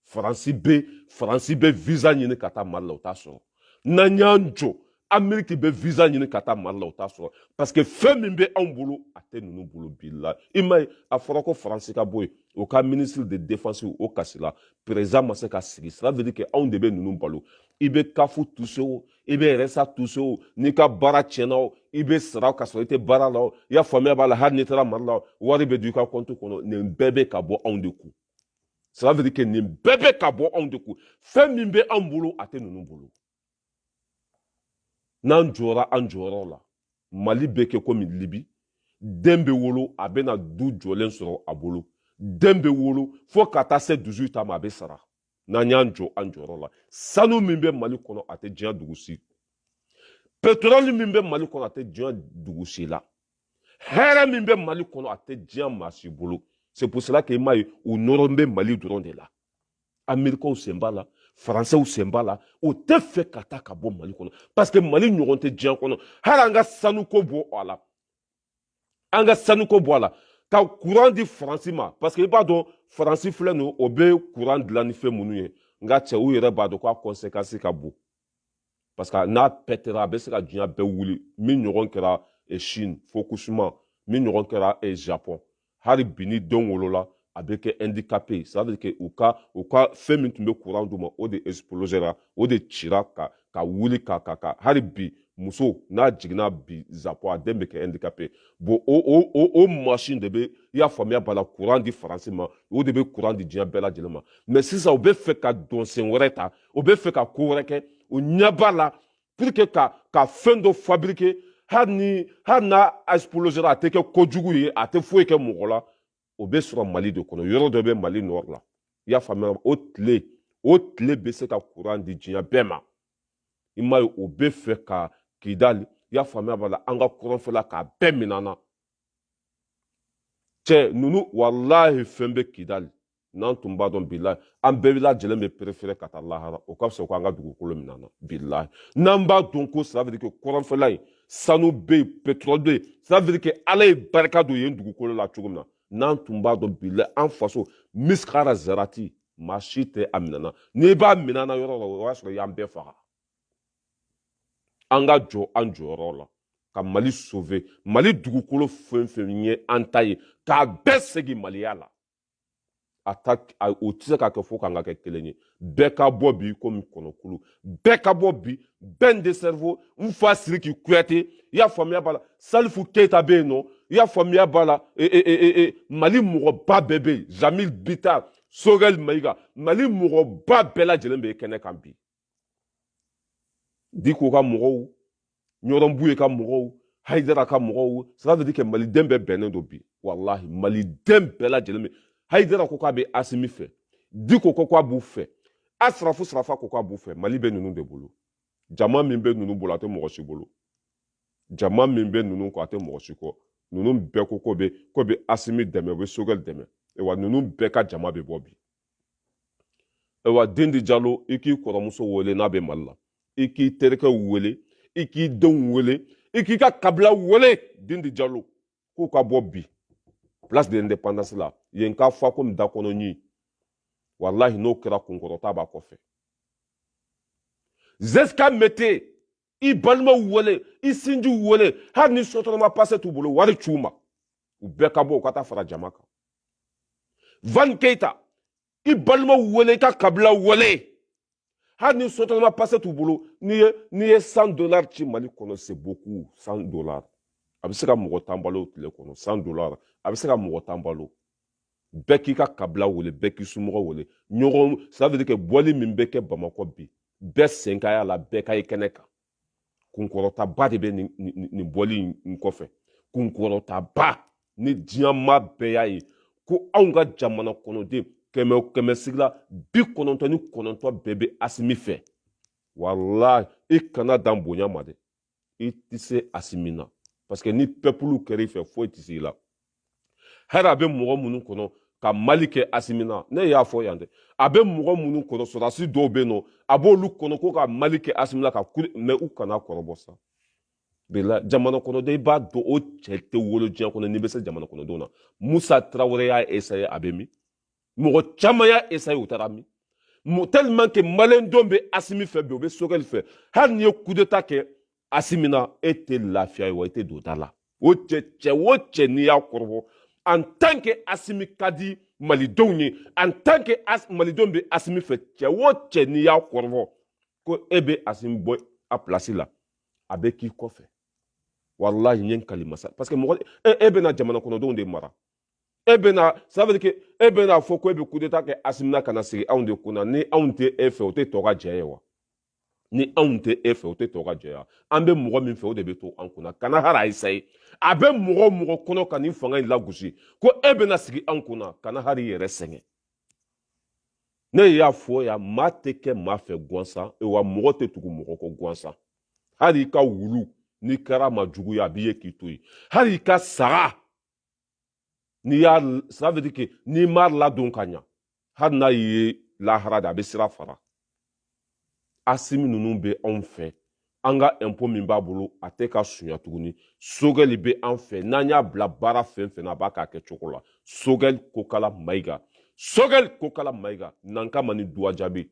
faransi bɛ faransi bɛ visa ɲini ka taa mali la o t'a sɔrɔ n'an y'an jɔ ameriki bɛ visa ɲini ka taa mali la o t'a sɔrɔ parce que fɛn min bɛ anw bolo a tɛ ninnu bolo bilahi i m'a ye a fɔra ko faransi ka bɔ yen o ka ministre de défense o kasila président ma se ka sigi cela veut dire que anw de bɛ ninnu balo i bɛ caf toucher o i bɛ rsa toucher o n'i ka baara tiɲɛna o i bɛ sara ka sɔrɔ i tɛ baara la o i y'a faamuya b'a la hali n'i taara mali la o wari bɛ don i ka compte kɔnɔ nin bɛɛ bɛ ka bɔ anw de kun ça veut dire que nin bɛɛ bɛ ka bɔ anw de kun fɛn min bɛ anw bolo a tɛ ninnu bolo n'an jɔra an jɔyɔrɔ la mali bɛ kɛ komi libi den bɛ wolo a bɛna du jɔlen sɔrɔ a bolo den bɛ wolo fo ka taa se 18 ans ma a bɛ sara n'an y'an jɔ an jɔyɔrɔ la sanu min bɛ mali kɔnɔ a tɛ diɲɛ dugu si petroli min bɛ mali kɔnɔ a tɛ diɲɛ dugu si la hɛrɛ min bɛ mali kɔnɔ a tɛ diɲɛ maa si bolo c'est pour cela que i m'a ye u nɔrɔ bɛ mali dɔrɔn de la amerikɛnw sen b'a la faransɛw sen b'a la o tɛ fɛ ka taa ka bɔ mali kɔnɔ parce que mali ɲɔgɔn tɛ diɲɛ kɔnɔ hali an ka sanuko bɔ a la an ka sanuko bɔ a la ka kuran di faransi ma parce que i b'a dɔn faransi filɛ nin o bɛ kuran dilan ni fɛn minnu ye nka cɛ u yɛrɛ b'a dɔn k'a kɔnsekansi ka bon parce que n'a pɛtɛra a bɛ se ka diɲɛ bɛɛ wuli min ɲɔgɔn kɛra chine fukushima min ɲɔgɔn kɛra japon hali bi ni denw wolola a bɛ kɛ handicapé ye ça veut dire que u ka u ka fɛn min tun bɛ courant d'u ma o de explosera o de cira ka ka wuli ka ka ka hali bi muso n'a jiginna bi japon a den bɛ kɛ handicapé bon o o o o machine de bɛ i y'a faamuya b'a la courant di faransi ma o de bɛ courant di diɲɛ bɛɛ lajɛlen ma mais sisan u bɛ fɛ ka dɔnsen wɛrɛ ta u bɛ fɛ ka ko wɛrɛ kɛ u ɲɛ b'a la pour que ka ka fɛn dɔ fabriquer hali ni hali n'a explosera a tɛ kɛ kojugu ye a tɛ foyi kɛ mɔgɔ la o bɛ sɔrɔ mali de kɔnɔ yɔrɔ dɔ bɛ mali nord la i y'a faamuya o tile o tile bɛ se ka kuran di diɲɛ bɛɛ ma i m'a ye o bɛ fɛ ka kidali i y'a faamuya b'a la an ka kɔrɔnfɛla k'a bɛɛ minɛ an na cɛ ninnu walahi fɛn bɛ kidali n'an tun b'a dɔn bilahi an bɛɛ lajɛlen bɛ perefere ka taa lahara o ka fisa ko an ka dugukolo minɛ an na bilahi n'an b'a dɔn ko ça veut dire que kɔrɔnfɛla yen sanu bɛ yen pétrole bɛ yen ça veut dire que ala ye barika don yen dugukolo la cogo min na n'an tun b'a dɔn bilahi an faso miskara zarati maa si tɛ a minɛ an na n'i b'a minɛ an na yɔrɔ la o y'a sɔrɔ i y'an bɛɛ faga an ka jɔ an jɔyɔrɔ la ka mali sauver mali dugukolo fɛn fɛn ye an ta ye k'a bɛɛ segin maliya la o tɛ se ka kɛ fo k'an ka kɛ kelen ye bɛɛ ka bɔ bi komi kɔnɔkulu bɛɛ ka bɔ bi ben le cerveau n fa siriki kuyate i y'a faamuya b'a la salifu keyita bɛ yen nɔ i y'a faamuya b'a la e, e, e, e mali mɔgɔba bɛɛ bɛ yen jamil bitar sogɛli mayiga mali mɔgɔba bɛɛ lajɛlen bɛ kɛnɛ kan bi diko ka mɔgɔw ɲɔrɔn buye ka mɔgɔw haidara ka mɔgɔw ça veut dire que maliden bɛɛ bɛnnen don bi walahi maliden bɛɛ lajɛlen bɛ haidara ko k'a bɛ asimi fɛ diko ko k'a b'u fɛ a sirafu sirafa ko k'a b'u fɛ mali bɛ ninnu de bolo jama min bɛ ninnu bolo a tɛ mɔgɔ si bolo jama min bɛ ninnu kɔ a tɛ mɔgɔ si kɔ ninnu bɛɛ ko k'u bɛ k'u bɛ asimi dɛmɛ u bɛ sogɛli dɛmɛ wa ninnu bɛɛ ka jama bɛ bɔ bi ayiwa dendi jalo i k'i kɔrɔmuso wele n'a bɛ mali la i k'i terikɛw wele i k'i denw wele i k'i ka kabila wele dendi jalo k'u ka bɔ bi place de indépendance la yen k'a fa komi da kɔnɔ ɲin walahi n'o kɛra kunkɔrɔta b'a kɔfɛ zeska mete i balimaw wele i sinjiw wele hali ni sotarama pase t'u bolo wari c'u ma u bɛɛ ka bɔ u ka taa fara jama kan van keita i balimaw wele i ka kabila wele hali ni sotarama pase t'u bolo n'i ye n'i ye cent dollars ci mali kɔnɔ c'est beaucoup cent dollars a bɛ se ka mɔgɔ tan balo tile kɔnɔ cent dollars a bɛ se ka mɔgɔ tan balo bɛɛ k'i ka kabila wele bɛɛ k'i somɔgɔ wele ɲɔgɔn ça veut dire que bɔli min bɛ kɛ bamakɔ bi bɛɛ sen ka y'a la bɛɛ ka ye kɛnɛ kan kunkɔrɔtaba de bɛ nin nin bɔli in kɔfɛ kunkɔrɔtaba ni diɲɛ maa bɛɛ y'a ye ko anw ka jamana kɔnɔden kɛmɛ kɛmɛsigi la bi kɔnɔntɔn ni kɔnɔntɔn bɛɛ bɛ asimi fɛ walahi i kana dan bonya ma dɛ i tɛ se asimi na parce que ni pɛpulu kɛra i fɛ foyi tɛ se i la hali a bɛ mɔgɔ minnu kɔnɔ ka mal kɛ asimi na ne y'a fɔ yan dɛ a bɛ mɔgɔ minnu kɔnɔ sɔrɔdasi dɔw bɛ yen n'a b'olu kɔnɔ ko ka mal kɛ asimi na ka kule mais u kan'a kɔrɔbɔ sabula jamana kɔnɔden i b'a dɔn o cɛ tɛ wolo diɲɛ kɔnɔ n'i bɛ se jamana kɔnɔdenw na musa tarawele y'a esaye a bɛ min mɔgɔ caman y'a esaye u taara min tellement que malidenw bɛ asimi fɛ bi u bɛ sogɛli fɛ hali n'i ye kudeta kɛ asimi na e tɛ lafiya ye wa i tɛ don da la o cɛ cɛ o cɛ n'i y'a kɔrɔbɔ en tant que asimi ka di malidenw ye en tant que as, malidenw bɛ asimi fɛ cɛ o cɛ n'i y'a kɔrɔbɔ ko e bɛ asimi bɔ a place la a bɛ k'i kɔfɛ walahi n ye n kali masa parce que mɔgɔ e, e bɛna jamana kɔnɔdenw de mara e bɛna ça veut dire que e bɛna fɔ ko e bɛ coup d'état kɛ Asimi na ka na sigi anw de kunna ni anw tɛ e fɛ o tɛ tokajɛ ye wa ni anw tɛ e fɛ o tɛ tokajɛ wa an bɛ mɔgɔ min fɛ o de bɛ to an kunna kana hali a essaye a bɛ mɔgɔ o mɔgɔ kɔnɔ ka nin fanga in lagosi ko e bɛna sigi anw kunna kana hali i yɛrɛ sɛgɛn ne y'a fɔ yan maa tɛ kɛ maa fɛ gansan e wa mɔgɔ tɛ tugu mɔgɔ kɔ gansan hali i ka wulu n'i kɛra maa jugu ye a b'i ye k'i to yen hali i ka saga n'i y'a ça veut dire que n'i m'a ladon ka ɲa hali n'a ye lahara de a bɛ sira fara asimi ninnu bɛ anw fɛ an ka impôt min b'a bolo a tɛ k'a sunya tuguni sogɛli bɛ an fɛ n'an y'a bila baara fɛn o fɛn na a b'a k'a kɛcogo la sogɛli kokala mayiga sogɛli kokala mayiga nanka mani duwa jaabi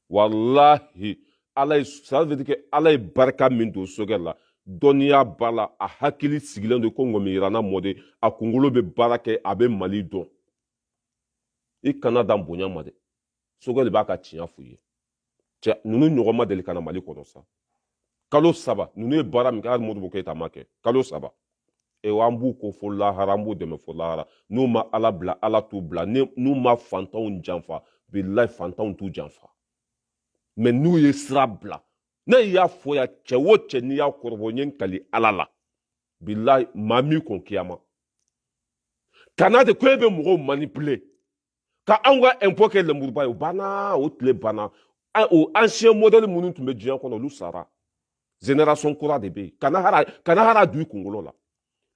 walahi ala ye ça veut dire que ala ye barika min don sogɛli la dɔnniya b'a la a hakili sigilen don ko ŋɔmiyirana mɔden a kunkolo bɛ baara kɛ a bɛ mali dɔn i kana dan bonya ma dɛ sogɛli b'a ka tiɲɛ f'u ye cɛ ninnu ɲɔgɔn ma deli ka na mali kɔnɔ sa kalo saba ninnu ye baara min kɛ hali modibo keyita m'a kɛ kalo saba ewa an b'u ko fo lahara an b'u dɛmɛ fo lahara n'u ma ala bila ala t'u bila n'u ma fantanw janfa bilahi fantanw t'u janfa mais n'u ye sira bila ne y'a fɔ yan cɛ o cɛ n'i y'a kɔrɔbɔ n ye n kali ala la bilahi maa min kɔn kiyama kana de ko e bɛ mɔgɔw manipuler ka anw ka impôt kɛ lenburuba ye o banna o tile banna o ancien modèle minnu tun bɛ diɲɛ kɔnɔ olu sara génération kura de bɛ yen kana hara kana hara du i kunkolo la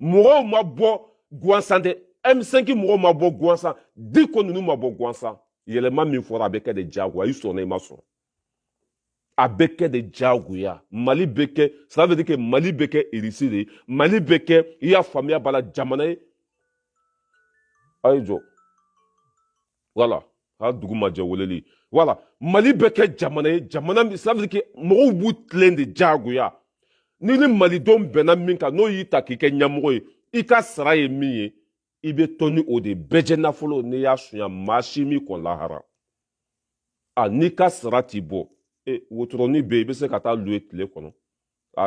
mɔgɔw ma bɔ gwansan dɛ m5 mɔgɔw ma bɔ gwansan diko ninnu ma bɔ gwansan yɛlɛma min fɔra a bɛ kɛ de diyagoya i sɔnna i ma sɔn a bɛ kɛ de diyagoya mali bɛ kɛ ça veut dire que mali bɛ kɛ irisi de ye mali bɛ kɛ i y'a faamuya b'a la jamana ye a ye jɔ voilà a dugu ma jɛ weleli voilà mali bɛ kɛ jamana ye jamana ça veut dire que mɔgɔw b'u tilen de diyagoya ni ni malidenw bɛnna min kan n'o y'i ta k'i kɛ ɲɛmɔgɔ ye i ka sara ye min ye i bɛ to ni o de bɛɛjɛ nafolo n'i y'a sunya maa si min kɔn lahara a n'i ka sara t'i bɔ e wotoroni bɛ yen i bɛ se ka taa louer tile kɔnɔ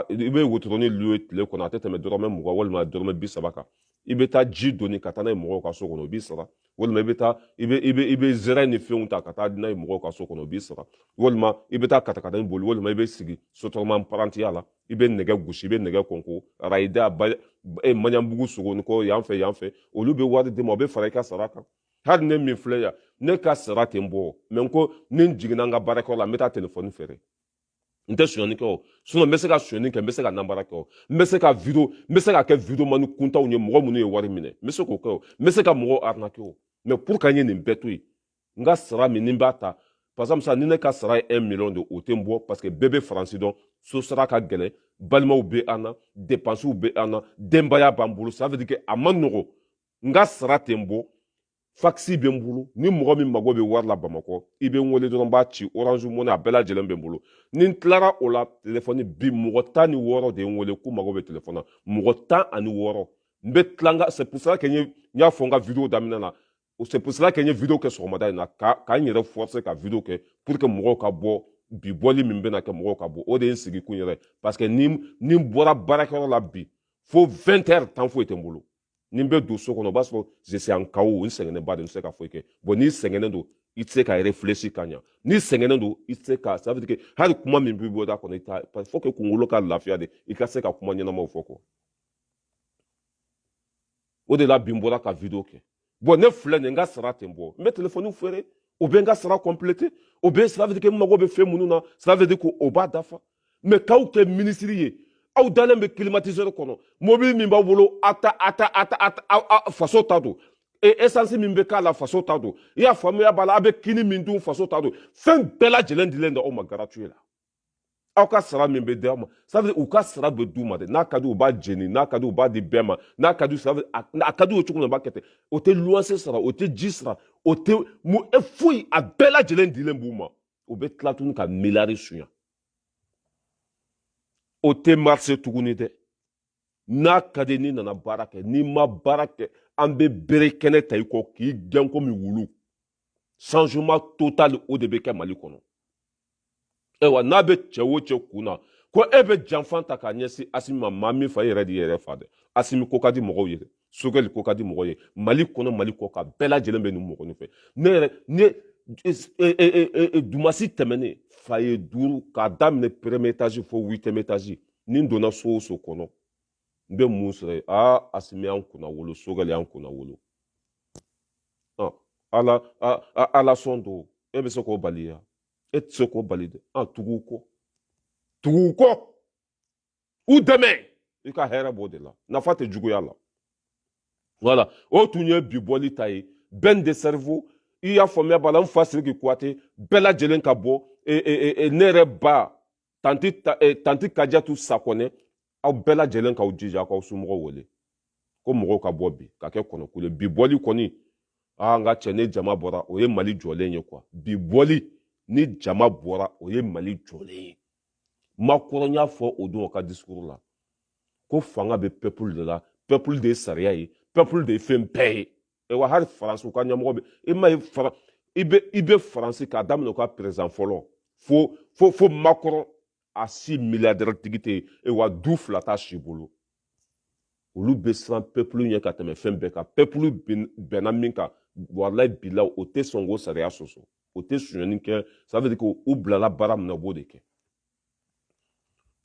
i bɛ wotoroni louer tile kɔnɔ a tɛ tɛmɛ dɔrɔmɛ mugan walima dɔrɔmɛ bi saba kan i bɛ taa ji doni ka taa n'a ye mɔgɔw ka so kɔnɔ o b'i sara walima i bɛ taa i bɛ i bɛ i bɛ zɛrɛ ni fɛnw ta ka taa n'a ye mɔgɔw ka so kɔnɔ o b'i sara walima i bɛ taa katakata boli walima i bɛ sigi sotarama parantiya la i bɛ nɛgɛ gosi i bɛ nɛgɛ kɔnko arayida e maɲanbugu sogonikɔ yan fɛ yan fɛ olu bɛ wari d'i ma o bɛ fara i ka sara kan hali ne min filɛ yan ne ka sara tɛ n bɔ mais n ko ni n jiginna n ka baarakɛyɔrɔ la n bɛ taa telefɔni feere n tɛ sonyani kɛ o sinon n bɛ se ka sonyani kɛ n bɛ se ka nanbara kɛ o n bɛ se ka video n bɛ se ka kɛ video mani kuntanw ye mɔgɔ minnu ye wari minɛ n bɛ se k'o kɛ o n bɛ se ka mɔgɔw arnaquer o mais pour que an ye nin bɛɛ to yen n ka sara min ni n b'a ta par exemple sisan ni ne ka sara ye 1 million de o tɛ n bɔ parce que bɛɛ bɛ faransi dɔn so sara ka gɛlɛn balimaw bɛ an na depansiw bɛ an na denbaya b'an bolo ça veut dire que a man nɔgɔ n ka sara tɛ n bɔ fakisi bɛ n bolo ni mɔgɔ min mago bɛ wari la bamakɔ i bɛ n wele dɔrɔn n b'a ci orange money a bɛɛ lajɛlen bɛ n bolo ni n tilara o la telefɔni bi mɔgɔ tan ni wɔɔrɔ de ye n wele k'u mago bɛ telefɔni na mɔgɔ tan ani wɔɔrɔ n bɛ tila n ka c'est pour ça que n y'a fɔ n ka video daminɛ na o c'est pour cela que n ye video kɛ sɔgɔmada in na ka ka n yɛrɛ forcer ka video kɛ pour que mɔgɔw ka bɔ bi bɔli min bɛna kɛ mɔgɔw ka bɔ o de ye n sigi kun yɛrɛ parce que ni ni n bɔra baarakɛyɔrɔ la bi fo 20 heures temps foyi tɛ n bolo ni n bɛ don so kɔnɔ o b'a sɔrɔ je suis en KO n sɛgɛnnen ba de n tɛ se ka foyi kɛ bon n'i sɛgɛnnen don i tɛ se ka réfléchir ka ɲa n'i sɛgɛnnen don i tɛ se ka ça veut dire que hali kuma min bɛ bɔ i da kɔnɔ i t'a parce que faut que kunkolo ka lafiya de i ka se ka kuma ɲɛnamaw fɔ quoi o de la bi n bɔra ka video kɛ bon ne filɛ nin n ka sara tɛ n bɔ n bɛ telefɔni feere o bɛ n ka sara compléter o bɛ ça veut dire que n mago bɛ fɛn minnu na ça veut dire que o b'a dafa mais k'aw kɛ minisiri ye aw dalen bɛ climatiseur kɔnɔ mobili min b'aw bolo a ta a ta a ta a ta faso ta don e, esansi min bɛ k'a la faso ta don i y'a faamuya b'a la a bɛ kini min dun faso ta don fɛn bɛɛ lajɛlen dilen don aw ma gratuit la aw ka sara min bɛ di aw ma ça veut dire u ka sara bɛ d'u ma dɛ n'a ka di u b'a jeni n'a ka di u b'a di bɛɛ ma n'a ka di ça veut a ka di u cogo min na u b'a kɛ ten o tɛ luwanse sara o tɛ ji sara o tɛ mun e foyi a bɛɛ lajɛlen dilen b'u ma u bɛ tila tuguni ka miliyari sunya o tɛ marcher tuguni dɛ n'a ka di n'i nana baara kɛ n'i ma baara kɛ an bɛ bere kɛnɛ ta i kɔ k'i gɛn komi wulu changement total o de bɛ kɛ mali kɔnɔ ayiwa n'a bɛ cɛ o cɛ kun na ko e bɛ janfa ta k'a ɲɛsin asimi ma maa min fa e yɛrɛ de yɛrɛ fa dɛ asimi ko ka di mɔgɔw ye dɛ sogɛli ko ka di mɔgɔw ye mali kɔnɔ mali kɔkan bɛɛ lajɛlen bɛ nin mɔgɔnin fɛ ne yɛrɛ ne e, e, e, dimasi tɛmɛnen foyer duuru k'a daminɛ premier étage fo huitième étage ni n donna so o so kɔnɔ n bɛ mun sɔrɔ yen aa asimi y'an kunnawolo sogɛli y'an kunnawolo ala ala sɔn don e bɛ se k'o bali ya e tɛ se k'o bali dɛ an tugu u kɔ tugu u kɔ u dɛmɛ i ka hɛrɛ b'o de la nafa tɛ juguya la voilà o tun ye bi bɔli ta ye ben le cerveau i y'a faamuya b'a la n fa siriki kuyate bɛɛ lajɛlen ka bɔ e, e, e, ne yɛrɛ ba tanti ta, eh, tanti kajatu sakɔnɛ aw bɛɛ lajɛlen k'aw jija aw k'aw somɔgɔw wele ko mɔgɔw ka bɔ bi ka kɛ kɔnɔkulu bi bɔli kɔni aa n ka cɛ ni jama bɔra o ye mali jɔlen ye quoi bi bɔli ni jama bɔra o ye mali jɔlen ye macron y'a fɔ o don o ka discours la ko fanga bɛ peuple de la peuple de ye sariya ye peuple de ye fɛn bɛɛ ye e wa hali faransi u ka ɲɛmɔgɔ bɛ i ma ye fara i bɛ i bɛ faransi k'a daminɛ u ka président fɔlɔ fo fo fo macron a si milliardaire tigi tɛ yen e wa du fila t'a si bolo olu bɛ siran peuple ɲɛ ka tɛmɛ fɛn bɛɛ kan peuple bɛnna min kan walayi bilayi o tɛ sɔn k'o sariya sɔsɔ o tɛ sonyani kɛ ça veut dire que u bilala baara min na u b'o de kɛ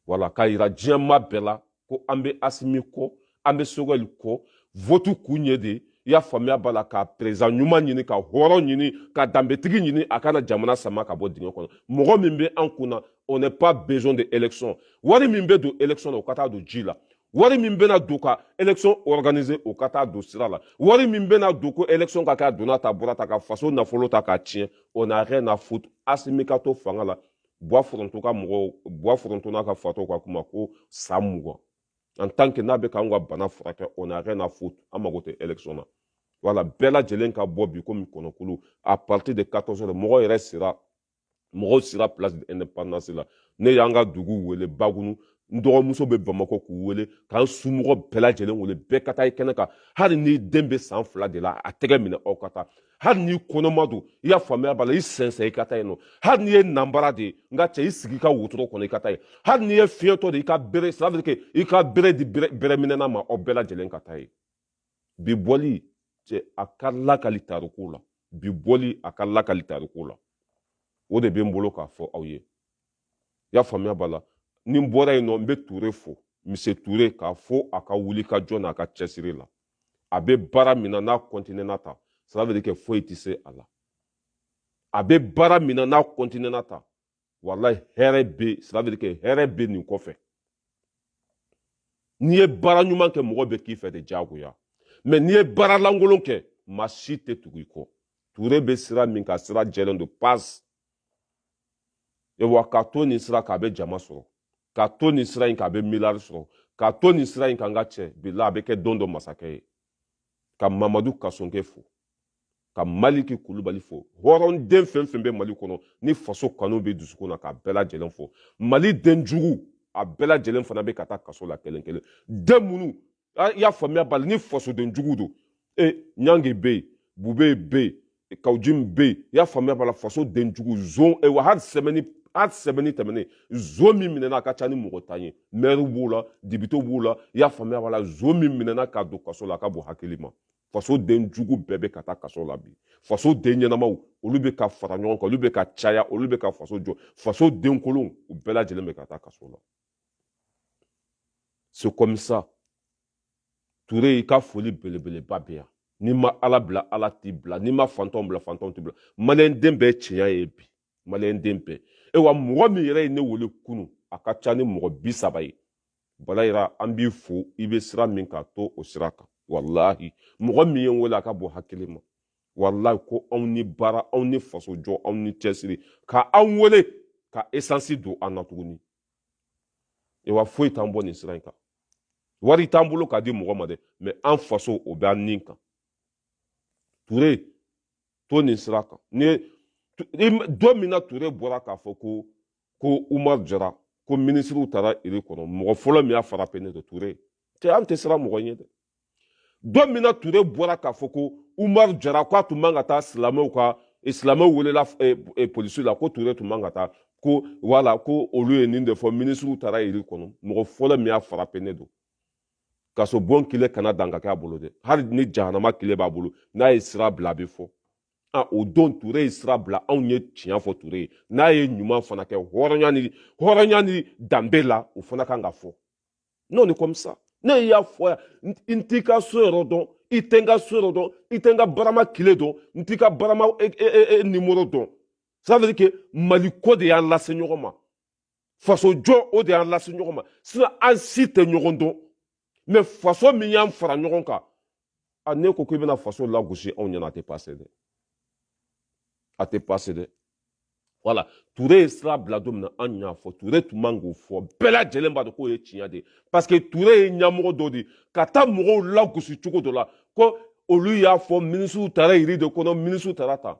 wala k'a yira diɲɛma bɛɛ la ko an bɛ asimi kɔ an bɛ sogɛli kɔ votu kun ye de i y'a faamuya b'a la ka président ɲuman ɲini ka hɔrɔn ɲini ka danbetigi ɲini a ka na jamana sama ka bɔ dingɛ kɔnɔ mɔgɔ min bɛ an kun na on n'est pas besoin de élection wari min bɛ don élection na o ka taa don ji la wari min bɛna don ka élection organiser o ka taa don sira la wari min bɛna don ko élection ka kɛ a donna ta bɔra ta ka faso nafolo ta k'a tiɲɛ on n'a rien à foutre asimi ka to fanga la bwa foronto ka mɔgɔw bwa foronto n'a ka fatɔw ka kuma ko san mugan en tant que n'a bɛ k'an ka bana furakɛ on n'a rien à foutre an mago tɛ élection na voilà bɛɛ lajɛlen ka bɔ bi komi kɔnɔkulu à partir de 14 heures mɔgɔ yɛrɛ sera mɔgɔw sera place de l'indépendance la ne y'an ka dugu wele bagunu n dɔgɔmuso bɛ bamakɔ k'u wele k'an somɔgɔ bɛɛ lajɛlen wele bɛɛ ka taa i kɛnɛ kan hali n'i den bɛ san fila de la a tɛgɛ minɛ aw ka taa hali n'i kɔnɔma don i y'a faamuya b'a la i sɛnsɛn i ka taa yen nɔ hali n'i ye nanbara de ye n ka cɛ i sigi i ka wotoro kɔnɔ i ka taa yen hali n'i ye fiɲɛtɔ de i ka bere ça veut dire que i ka bere di bereminɛna ma aw bɛɛ lajɛlen ka taa yen bi bɔli cɛ a ka lakali tariku la bi bɔli a ka lakali tariku la o de bɛ n bolo k'a fɔ aw ye i y'a faamuya b'a la ni n bɔra yen nɔ n bɛ ture fo mise ture k'a fo a ka wuli ka jɔ n'a ka cɛsiri la a bɛ baara min na n'a kɔntinɛna ta ça veut dire que foyi tɛ se a la a bɛ baara min na n'a kɔntinɛna ta walayi hɛrɛ bɛ ça veut dire que hɛrɛ bɛ nin kɔfɛ n'i ye baara ɲuman kɛ mɔgɔ bɛ k'i fɛ de diyagoya mais n'i ye baara lankolon kɛ maa si tɛ tugu i kɔ ture bɛ sira min kan sira jɛlen don pas wa ka to nin sira kan a bɛ jama sɔrɔ ka to nin sira in kan a bɛ miliyari sɔrɔ ka to nin sira in kan n ka cɛ bilahi a bɛ kɛ don dɔ masakɛ ye ka mamadu kasoge fo ka maliki kulubali fo hɔrɔnden fɛn fɛn bɛ mali kɔnɔ ni faso kanu bɛ dusukun na k'a bɛɛ lajɛlen fo mali den jugu a bɛɛ lajɛlen fana bɛ ka taa kaso la kelen kelen den minnu ah, i y'a faamuya b'a la ni fasoden jugu don e ɲange bɛ yen bube bɛ yen kawujim bɛ yen i y'a faamuya b'a la faso den jugu zon e wa hali semaine hali semaine tɛmɛnen zon min minɛna a ka ca ni mɔgɔ tan ye mɛriw b'o la depitew b'o la i y'a faamuya b'a la zon min minɛna k'a don kaso la a ka bon hakili ma faso den jugu bɛɛ bɛ ka taa kaso la bi faso den ɲɛnamaw olu bɛ ka fara ɲɔgɔn kan olu bɛ ka caya olu bɛ ka faso jɔ faso den kolonw u bɛɛ lajɛlen bɛ ka taa kaso la c'est comme ça ture i ka foli belebeleba bɛ yan n'i ma ala bila ala t'i bila n'i ma fantanw bila fantanw t'i bila maliyɛn den bɛɛ tiɲɛ ye bi maliyɛn den bɛɛ e wa mɔgɔ min yɛrɛ ye ne wele kunun a ka ca ni mɔgɔ bi saba ye balayira an b'i fo i bɛ sira min kan to o sira kan walahi mɔgɔ min ye n wele a ka bon hakili ma walayi ko anw ni baara anw ni fasojɔ anw ni cɛsiri ka anw wele ka esansi don an na tuguni ewa foyi t'an bɔ nin sira in kan wari t'an bolo k'a di mɔgɔ ma dɛ mɛ an faso o bɛ an nin kan ture to nin sira kan don min na ture bɔra k'a fɔ ko ko umar jara ko minisiriw taara iri kɔnɔ mɔgɔ fɔlɔ min y'a frappé ne de ture cɛ an tɛ siran mɔgɔ ɲɛ dɛ don min na ture bɔra k'a fɔ ko umar jara ko a tun man ka taa silamɛw ka eh, silamɛw welela eh, eh, polisi la ko ture tun man ka taa ko wala ko olu ye nin de fɔ minisiriw taara iri kɔnɔ mɔgɔ fɔlɔ min y'a frappé ne don kasobon kile kana dan ka kɛ a bolo dɛ hali ni jahanama kile b'a bolo n'a ye sira bila a bɛ fɔ a o don ture ye sira bila anw ye tiɲɛ fɔ ture ye n'a ye ɲuman fana kɛ hɔrɔnya ni danbe la o fana kan ka fɔ non ni kɔmisa ne y'a fɔ yan n t'i ka so yɔrɔ dɔn i tɛ n ka so yɔrɔ dɔn i tɛ n ka barama kile dɔn n t'i ka barama e, e, e, e nimoro dɔn ça veut dire que mali ko de y'an lase ɲɔgɔn ma faso jɔ o de y'an lase ɲɔgɔn ma sinɔ an si tɛ ɲɔgɔn dɔn mɛ faso min y'an fara ɲɔgɔn kan a n'e ko k'i bɛna faso lagosi anw ɲɛna a tɛ pase dɛ a tɛ pase dɛ wala ture ye sira bila don min na an y'a fɔ ture tun man k'o fɔ bɛɛ lajɛlen b'a dɔn k'o ye tiɲɛ de ye parce que ture ye ɲɛmɔgɔ dɔ de ye ka taa mɔgɔw lagosi cogo dɔ la ko olu y'a fɔ minisiriw taara yiri de kɔnɔ minisiriw taara ta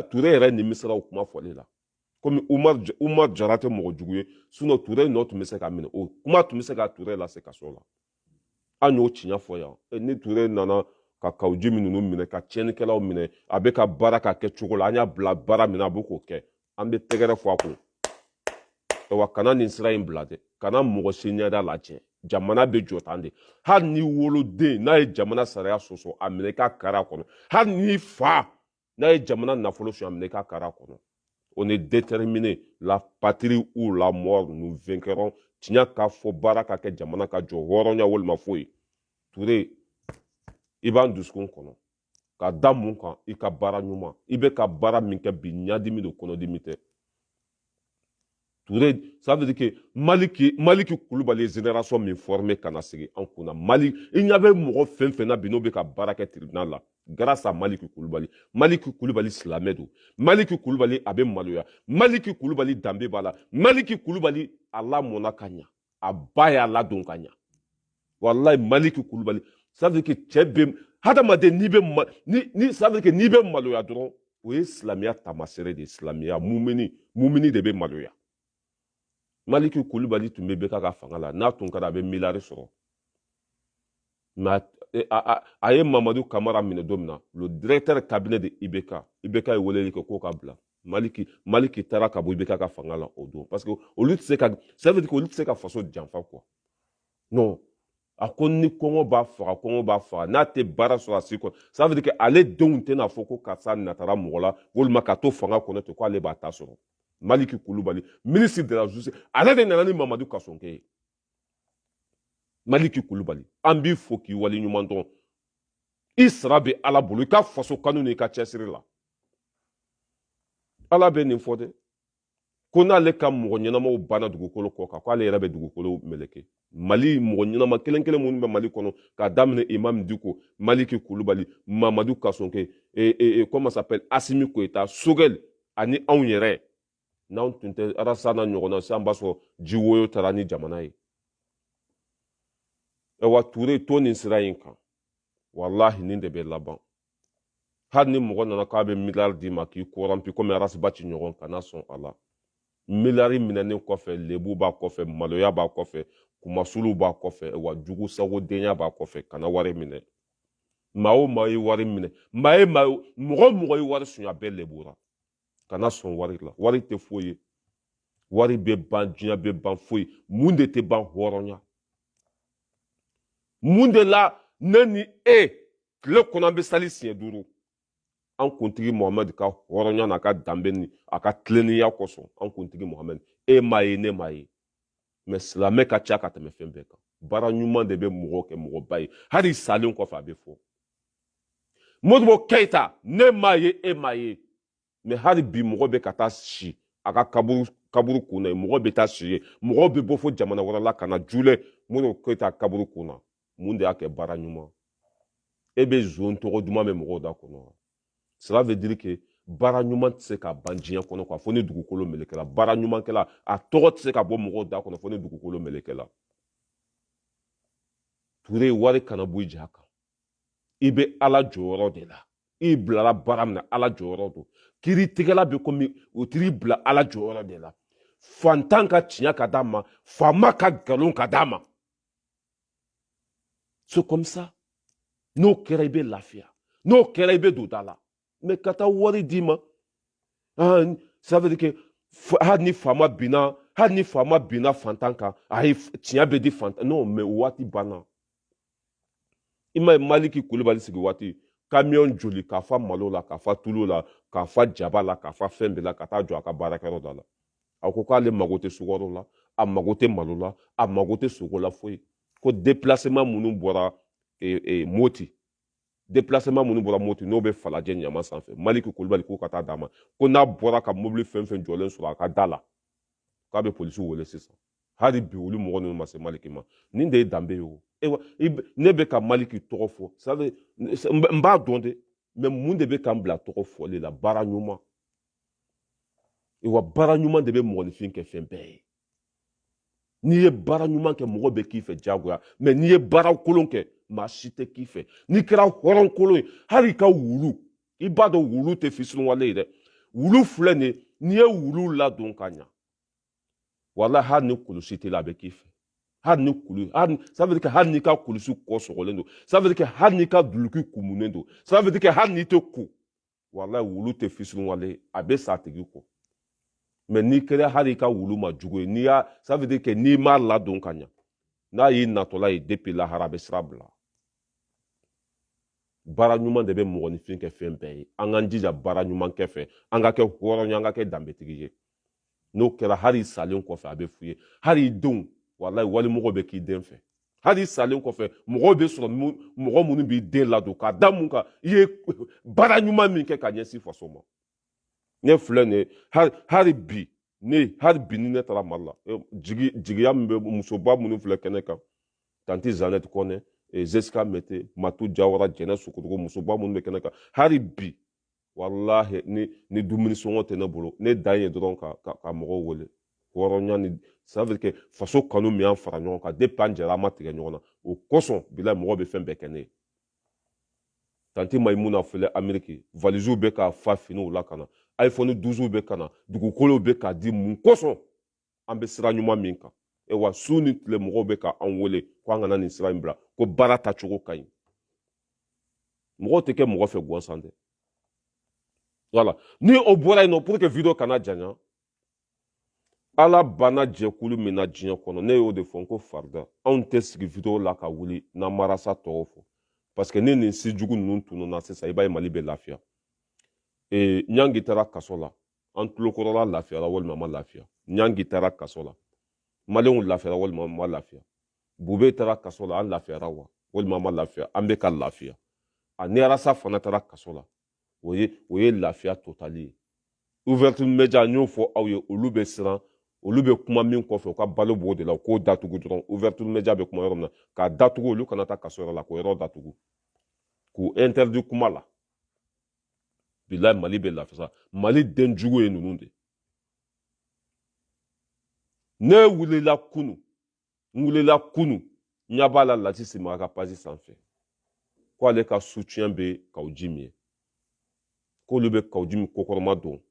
ture yɛrɛ nimisara o kuma fɔli la komi umar jara tɛ mɔgɔ jugu ye sinɔ ture nɔ tun bɛ se ka minɛ o kuma tun bɛ se ka ture lase kaso la an y'o tiɲɛ fɔ yan e, ni ture nana ka kawuji min ninnu minɛ ka tiɲɛnikɛlaw minɛ a bɛ ka baara ka kɛ cogo la an y'a bila baara min na a bɛ k'o kɛ an bɛ tɛgɛrɛ fɔ a kun wa kana nin sira in bila dɛ kana mɔgɔ si ɲɛda lajɛ jamana bɛ jɔ tan de hali n'i woloden n'a ye jamana sariya sɔsɔ a minɛ k'a kari a kɔnɔ hali n'i fa n'a ye jamana nafolo suɲɛ a minɛ i k'a kari a kɔnɔ on est déterminé la patrie ou la mort nous vaincrons tiɲɛ ka fɔ baara ka kɛ jamana ka jɔ hɔrɔnya walima foyi ture i b'an dusukun kɔnɔ ka da mun kan i ka baara ɲuman i bɛ ka baara min kɛ bi ɲadimi don kɔnɔdimi tɛ Toure ça veut dire que Maliki Koulibaly ye génération min formé ka na sigi an kunna Mali i ɲa bɛ mɔgɔ fɛn fɛn na bi n'o bɛ ka baara kɛ tribunal la grâce à Maliki Koulibaly Maliki Koulibaly silamɛ don Maliki Koulibaly a bɛ maloya Maliki Koulibaly danbe b'a la Maliki Koulibaly a lamɔna ka ɲa a ba y'a ladon ka ɲa walayi maliki kulubali ça veut dire que cɛ bɛ hadamaden n'i bɛ ni ça veut dire que n'i bɛ maloya dɔrɔn o ye silamɛya taamasere de ye silamɛya mumini mumini de bɛ maloya maliki kulubali tun bɛ IBK ka fanga la n'a tun kɛra a bɛ miliyari sɔrɔ mais a ye mamadu kamara minɛ don min na le directeur cabinet de ibk ibk ye weleli kɛ k'o k'a bila maliki maliki taara ka bɔ ibk ka fanga la o don parce que olu tɛ se ka ça veut dire que olu tɛ se ka faso janfa quoi non a ko ni kɔngɔ b'a faga kɔngɔ b'a faga n'a tɛ baara sɔrɔ a si kɔnɔ ça veut dire que ale denw tɛna fɔ ko karisa natara mɔgɔ la walima ka to fanga kɔnɔ ten ko ale b'a ta sɔrɔ maliki kulubali ministre de la justice ale de nana ni mamadu kasoge ye maliki kulubali an b'i fo k'i wale ɲuman dɔn i sara bɛ ala bolo i ka faso kanu ni i ka cɛsiri la ala bɛ nin fɔ dɛ ko n'ale ka mɔgɔ ɲɛnamaw banna dugukolo kɔ kan ko ale yɛrɛ bɛ dugukolo meleke mali mɔgɔ ɲɛnama kelen kelen minnu bɛ mali kɔnɔ k'a daminɛ imam diko maliki kulubali mamadu kasoge e, e, e, comment s'appelle asimi goyita sogɛli ani anw yɛrɛ n'anw tun tɛ arasi n'a ɲɔgɔnna sisan b'a sɔrɔ ji woyo taara ni jamana ye ɛwa ture to nin sira in kan walahi nin de bɛ laban hali ni mɔgɔ nana k'a bɛ miliyari d'i ma k'i kɔrɔnpi komi arasibati ɲɔgɔn kana sɔn a la miliyari minɛnen kɔfɛ lebu b'a kɔfɛ maloya b'a kɔfɛ kunmasuli b'a kɔfɛ wa jugu sagodenya b'a kɔfɛ kana wari minɛ maa o maa ye wari minɛ maa ye maa mɔgɔ mɔgɔ ye wari sunya bɛɛ lebura kana sɔn wari la wari tɛ foyi ye wari bɛ ban diɲɛ bɛ ban foyi mun de tɛ ban hɔrɔnya mun de la ne ni e tile kɔnɔ an bɛ sali siɲɛ duuru an kuntigi mohamɛdi ka hɔrɔnya n'a ka danbe ni a ka tilennenya kosɔn an kuntigi mohamɛdi e m'a ye ne m'a ye mais silamɛ ka ca ka tɛmɛ fɛn bɛɛ kan baara ɲuman de bɛ mɔgɔ kɛ mɔgɔba ye hali salen kɔfɛ a bɛ fɔ modibo keyita ne m'a ye e m'a ye mais hali bi mɔgɔ bɛ ka taa si a ka kaburu kaburu kun na mɔgɔ bɛ taa si ye mɔgɔ bɛ bɔ fo jamana wɛrɛ la ka na jule modibo keyita kaburu kun na mun de y'a kɛ baara ɲuman e bɛ zon tɔgɔ duman bɛ mɔgɔw da kɔnɔ wa cela veut dire que baara ɲuman tɛ se ka ban diɲɛ kɔnɔ quoi fo ni dugukolo melekela baara ɲumankɛla a tɔgɔ tɛ se ka bɔ mɔgɔw da kɔnɔ fo ni dugukolo melekela ture wari kana bɔ i ja kan i bɛ ala jɔyɔrɔ de la i bilala baara min na ala jɔyɔrɔ don kiritigɛla bɛ komi u tiri bila ala jɔyɔrɔ de la fantan ka tiɲɛ ka d'a ma faama ka nkalon ka d'a ma c'est comme ça n'o kɛra i bɛ lafiya n'o kɛra i bɛ don da la mais ka taa wari d'i ma ça veut dire que hali ni faama binna hali ni faama binna fantan kan ayi tiɲɛ bɛ di fantan non mais o waati banna i ma ye maliki kulubali sigi waati kamiyɔn joli k'a fa malo la k'a fa tulu la k'a fa jaba la k'a fa fɛn bɛɛ la ka taa jɔ a ka baarakɛyɔrɔ da la a ko k'ale mago tɛ sukaro la a mago tɛ malo la a mago tɛ sogo la foyi ko déplacement minnu bɔra e, e, moti déplacement minnu bɔra moti n'o bɛ falajɛ ɲama sanfɛ maliki kulubali k'o ka taa d'a ma ko n'a bɔra ka mobili fɛn fɛn jɔlen sɔrɔ a ka da la k'a bɛ polisiw wele sisan hali bi olu mɔgɔ ninnu ma se maliki ma nin de ye danbe ye o ewa ne bɛ ka maliki tɔgɔ fɔ ça veut n b'a dɔn dɛ mais mun de bɛ ka n bila tɔgɔ fɔli la baara ɲuman wa baara ɲuman de bɛ mɔgɔninfin kɛ fɛn bɛɛ ye n'i ye baara ɲuman kɛ mɔgɔ bɛ k'i fɛ diyagoya mais n'i ye baara kolon kɛ maa si tɛ k'i fɛ n'i kɛra hɔrɔn kolon ye hali i ka wulu i b'a dɔn wulu tɛ fisiriwale ye dɛ wulu filɛ nin ye n'i ye wulu ladon ka ɲa wala hali ni kulusi t'i la a bɛ k'i fɛ hali ni kulu hali ça veut dire que hali n'i ka kulusi kɔ sɔgɔlen don ça veut dire que hali n'i ka duluki kumunen don ça veut dire que hali n'i tɛ ko walahi wulu tɛ fisiriwale a bɛ sa a tigi kɔ mais n'i kɛra hali i ka wulu ma jugu ye ça veut dire que n'i m'a ladon ka ɲa n'a y'i natɔla ye depuis lahara a bɛ sira bila baara ɲuman de bɛ mɔgɔninfin kɛ fɛn bɛɛ ye an k'an jija baara ɲuman kɛ fɛ an ka kɛ hɔrɔn ye an ka kɛ danbetigi ye n'o kɛra hali i salen kɔfɛ a bɛ f'u ye hali i denw walayi walimɔgɔ bɛ k'i den fɛ hali i salen kɔfɛ mɔgɔw bɛ sɔrɔ mɔgɔ minnu b'i den ladon k'a da mun kan i ye baara ɲuman min kɛ ka ɲɛsin faso ma ne filɛ nin ye hali bi ne hali bi ni ne taara mali la e, jigi jigiya min bɛ musoba minnu filɛ kɛnɛ kan tanti zanɛti kɔnɛ e, zesika mɛte matu jawara jɛnɛ sogodogo musoba minnu bɛ kɛnɛ kan hali bi walahi ni ni dumuni sɔngɔ tɛ ne bolo ne dan ye dɔrɔn ka ka, ka mɔgɔw wele hɔrɔnya ni ça veut dire que faso kanu min y'an fara ɲɔgɔn kan depuis an jɛra an ma tigɛ ɲɔgɔn na o kosɔn bilayi mɔgɔw bɛ fɛn bɛɛ kɛ ne ye tanti mayimuna filɛ ameriki valiziw bɛ ka fa finiw la ka na iphone 12 bɛ ka na dugukolow bɛ ka di mun kosɔn an bɛ sira ɲuman min kan e wa su ni tile mɔgɔw bɛ ka an wele ko an kana nin sira in bila ko baara tacogo ka ɲi mɔgɔw tɛ kɛ mɔgɔ fɛ gansan dɛ voilà ni o bɔra yen nɔ pour que video kana janya ala banna jɛkulu min na diɲɛ kɔnɔ ne y'o de fɔ n ko farida anw tɛ sigi video la ka wuli n'an ma rasta tɔgɔ fɔ parce que ni nin si jugu ninnu tununna sisan i b'a ye mali bɛ lafiya ee ɲangi taara kaso la an tulokɔrɔla lafiyara walima ma lafiya ɲangi taara kaso la maliyɛnw lafiyara walima ma lafiya bube taara kaso la an lafiyara wa walima ma lafiya an bɛ ka lafiya ni arasa fana taara kaso la o ye o ye lafiya totali ye ouverture media n y'o fɔ aw ye olu bɛ siran olu bɛ kuma min kɔfɛ u ka balo b'o de la u k'o datugu dɔrɔn ouverture media bɛ kuma yɔrɔ min na k'a datugu olu kana taa kaso yɔrɔ la k'o yɔrɔ datugu k'u interdit kuma la bilayi mali bɛ lafiya mali den jugu ye ninnu de ne wulila kunu n wulila kunu n ɲa b'a la lasisi mara ka page sanfɛ ko ale ka soutien bɛ kawu jim ye k'olu bɛ kawu jim kɔkɔrɔma don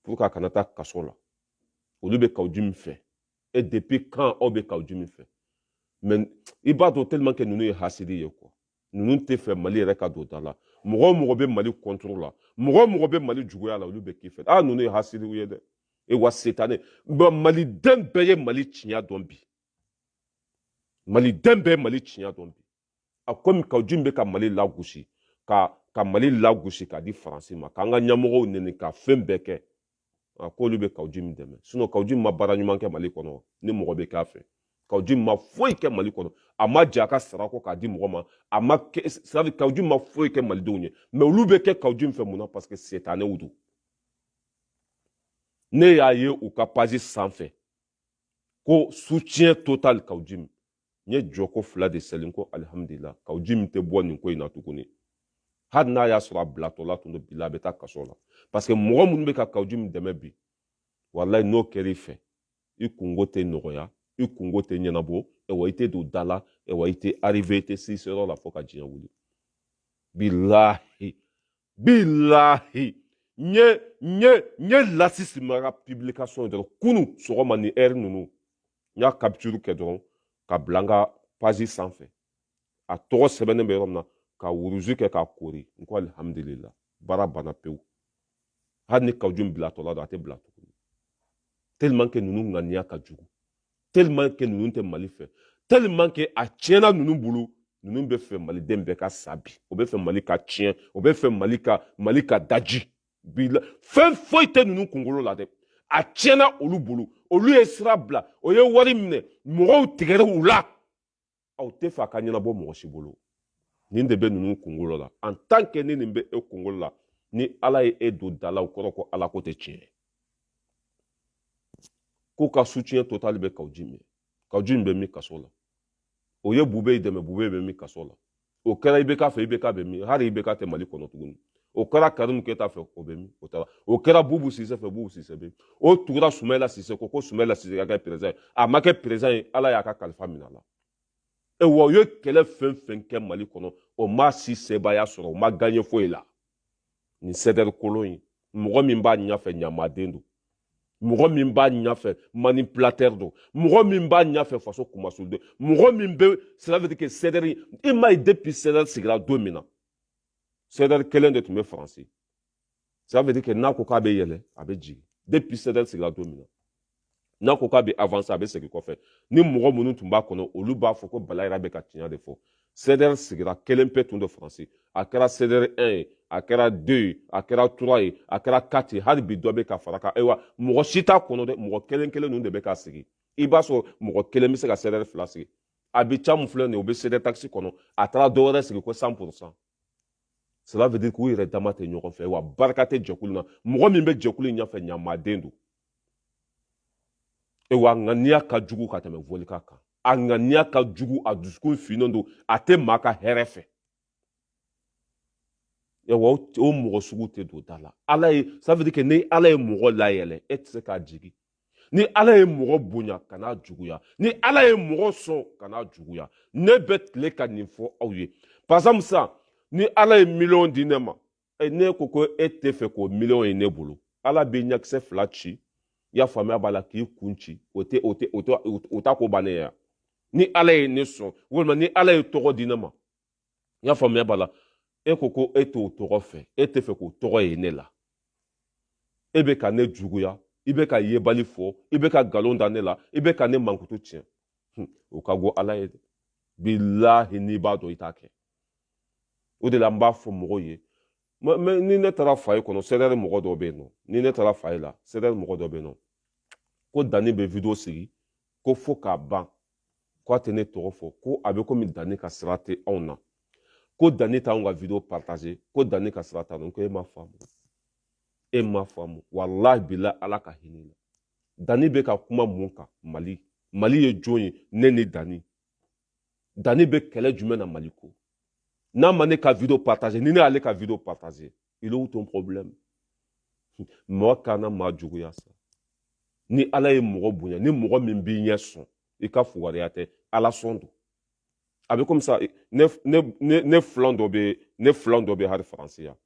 pour que a kana taa kaso la olu bɛ kawu jim fɛ e depuis quand aw bɛ kawu jim fɛ mais i b'a dɔn tellement que ninnu ye hasidi ye quoi ninnu tɛ fɛ mali yɛrɛ ka don da la mɔgɔ o mɔgɔ bɛ mali contre la mɔgɔ o mɔgɔ bɛ mali juguya la olu bɛ k'i fɛ a ninnu ye hasidiw ye dɛ e wa setane maliden bɛɛ ye mali tiɲɛ dɔn bi maliden bɛɛ ye mali tiɲɛ dɔn bi a komi kawu jim bɛ ka mali lagosi ka ka mali lagosi k'a di faransi ma k'an ka ɲɛmɔgɔw neni ka fɛn bɛɛ kɛ a k'olu bɛ kawu jim dɛmɛ sinon kawu jim ma baara ɲuman kɛ mali kɔnɔ ni mɔgɔ bɛ k'a fɛ kawu jim ma foyi kɛ mali kɔnɔ a ma jɛn a ka sara kɔ k'a di mɔgɔ ma a ma sari kawu jim ma foyi kɛ malidenw ye mais olu bɛ kɛ kawu jim fɛ mun na parce que setanew don ne y'a ye u ka page sanfɛ ko soutien total kawu jim n ye jɔko fila de sɛli ko alihamudulila kawu jim tɛ bɔ nin ko in na tuguni hali n'a y'a sɔrɔ a bilatɔla tun don bi la a bɛ taa kaso la parce que mɔgɔ minnu bɛ ka kawu jim dɛmɛ bi walayi n'o kɛra i fɛ i kungo tɛ nɔgɔya i kungo tɛ ɲɛnabɔ ɛwa i tɛ don da la ɛwa i tɛ arrive i tɛ se seyɔrɔ la fo ka diɲɛ wuli bilahi bilahi n ye n ye n ye lasisi mara publication ye dɔrɔn kunu sɔgɔma ni heure ninnu n y'a capture kɛ dɔrɔn k'a bila n ka page sanfɛ a tɔgɔ sɛbɛnnen bɛ yɔrɔ min na ka wuruzu kɛ k'a koori n ko alihamudulila baara banna pewu hali ni kawu jim bilatɔla don a tɛ bila tuguni tellement que ninnu ŋaniya ka jugu tellement que ninnu tɛ mali fɛ tellement que a tiɲɛna ninnu bolo ninnu bɛ fɛ maliden bɛɛ ka sa bi o bɛ fɛ mali ka tiɲɛ o bɛ fɛ mali ka mali ka daji bi la fɛn foyi tɛ ninnu kunkolo la dɛ a tiɲɛna olu bolo olu ye sira bila o ye wari minɛ mɔgɔw tigɛra u la aw tɛ fɛ a ka ɲɛnabɔ mɔgɔ si bolo nin de bɛ ninnu kunkolo la en tant que ni nin bɛ e kunkolo la ni ala ye e don da la o kɔrɔ ko ala ko tɛ tiɲɛ ye k'u ka soutien total bɛ kawu jim kawu jim bɛ min kaso la o ye bube ye dɛmɛ bube bɛ min kaso la o kɛra ibk fɛ ibk bɛ min hali ibk tɛ mali kɔnɔ tuguni o kɛra karimu keyita fɛ o bɛ min o taara o kɛra bubu sise fɛ bubu sise bɛ o tugura sumɛla sise ko ko sumɛla sise ka kɛ perezan ye a ma kɛ perezan ye ala y'a ka kalifa minɛ a la e wa u ye kɛlɛ fɛn fɛn kɛ mali kɔnɔ o ma si sebaaya sɔrɔ o ma gaɲɛ foyi la nin sɛdɛri kolon in mɔgɔ min b'a ɲɛfɛ ɲamaden don mɔgɔ min b'a ɲɛfɛ manipulateur don mɔgɔ min b'a ɲɛfɛ faso kumasuli don mɔgɔ min bɛ sɛdɛri i m'a ye depuis sɛdɛri sigira don min na sɛdɛri kelen de tun bɛ faransi ça veut dire que n'a ko k'a bɛ yɛlɛ a bɛ jigin depuis sɛdɛri sigira don min na n'a ko k'a bɛ avancer a bɛ segin kɔfɛ ni mɔgɔ minnu tun b'a kɔnɔ olu b'a fɔ ko bala yɛrɛ bɛ ka tiɲɛ de fɔ sɛdɛri sigira kelen pe tun don faransi a kɛra sɛdɛri 1 ye a kɛra 2 ye a kɛra 3 ye a kɛra 4 ye hali bi dɔ bɛ ka fara kan ayiwa mɔgɔ si t'a kɔnɔ dɛ mɔgɔ kelen kelen ninnu de bɛ ka sigi i b'a sɔrɔ mɔgɔ kelen bɛ se ka sɛdɛri fila sigi abijan mun filɛ nin ye o bɛ sɛdɛri takisi kɔnɔ a taara dɔ wɛrɛ sigi ko cent pour cent cela veut dire k'u yɛrɛ dama tɛ ɲɔgɔn fɛ wa barika tɛ jɛkulu na mɔgɔ min bɛ jɛkulu in ɲɛfɛ ɲamaden don e wa ŋaniya ka jugu ka tɛmɛ volika kan a ŋaniya ka jugu a dusukun finnen don a tɛ maa ka hɛrɛ fɛ e wa o mɔgɔ sugu tɛ don da la ala ye ça veut dire que ni ala ye mɔgɔ layɛlɛ e tɛ se k'a jigin ni ala ye mɔgɔ bonya kan'a juguya ni ala ye mɔgɔ sɔn kan'a juguya ne bɛ tile ka nin fɔ aw ye par exemple sa ni ala ye miliyɔn di ne ma e, ne ko ko e tɛ fɛ k'o miliyɔn ye ne bolo ala bɛ ɲakisɛ fila ci i y'a faamuya b'a la k'i kun ci o tɛ o tɛ o tɛ o t'a ko bannen ye ni ala ye ne sɔn walima ni ala ye tɔgɔ di ne ma i y'a faamuya b'a la e ko ko e t'o tɔgɔ fɛ e tɛ fɛ k'o tɔgɔ ye ne la e bɛ ka ne juguya i bɛ ka yebali fɔ i bɛ ka nkalon da ne la i bɛ ka ne mankutu tiɲɛ o ka go ala ye dɛ bilahi n'i b'a dɔn i t'a kɛ o de la n b'a fɔ mɔgɔw ye ni ne taara foyer kɔnɔ sɛdɛri mɔgɔ dɔ bɛ yen nɔ ni ne taara foyer la sɛdɛri mɔgɔ dɔ bɛ yen nɔ ko dani bɛ wideyo sigi ko fo k'a ban ko a tɛ ne tɔgɔ fɔ ko a bɛ komi dani ka sira tɛ anw na ko dani t'anw ka video partager ko dani ka sira t'a la ko e ma faamu e ma faamu walahi bilahi ala ka hinɛ la dani bɛ ka kuma mun kan mali mali ye jɔn ye ne ni dani dani bɛ kɛlɛ jumɛn na mali ko n'a ma ne ka video partager ni ne y'ale ka video partager il est où ton problème mɔgɔ kana mɔgɔ juguya sa ni ala ye mɔgɔ bonya ni mɔgɔ min b'i ɲɛ sɔn i ka fugariya tɛ ala sɔn don a bɛ komi sa ne ne ne ne filan dɔ bɛ ne filan dɔ bɛ hali faransi yan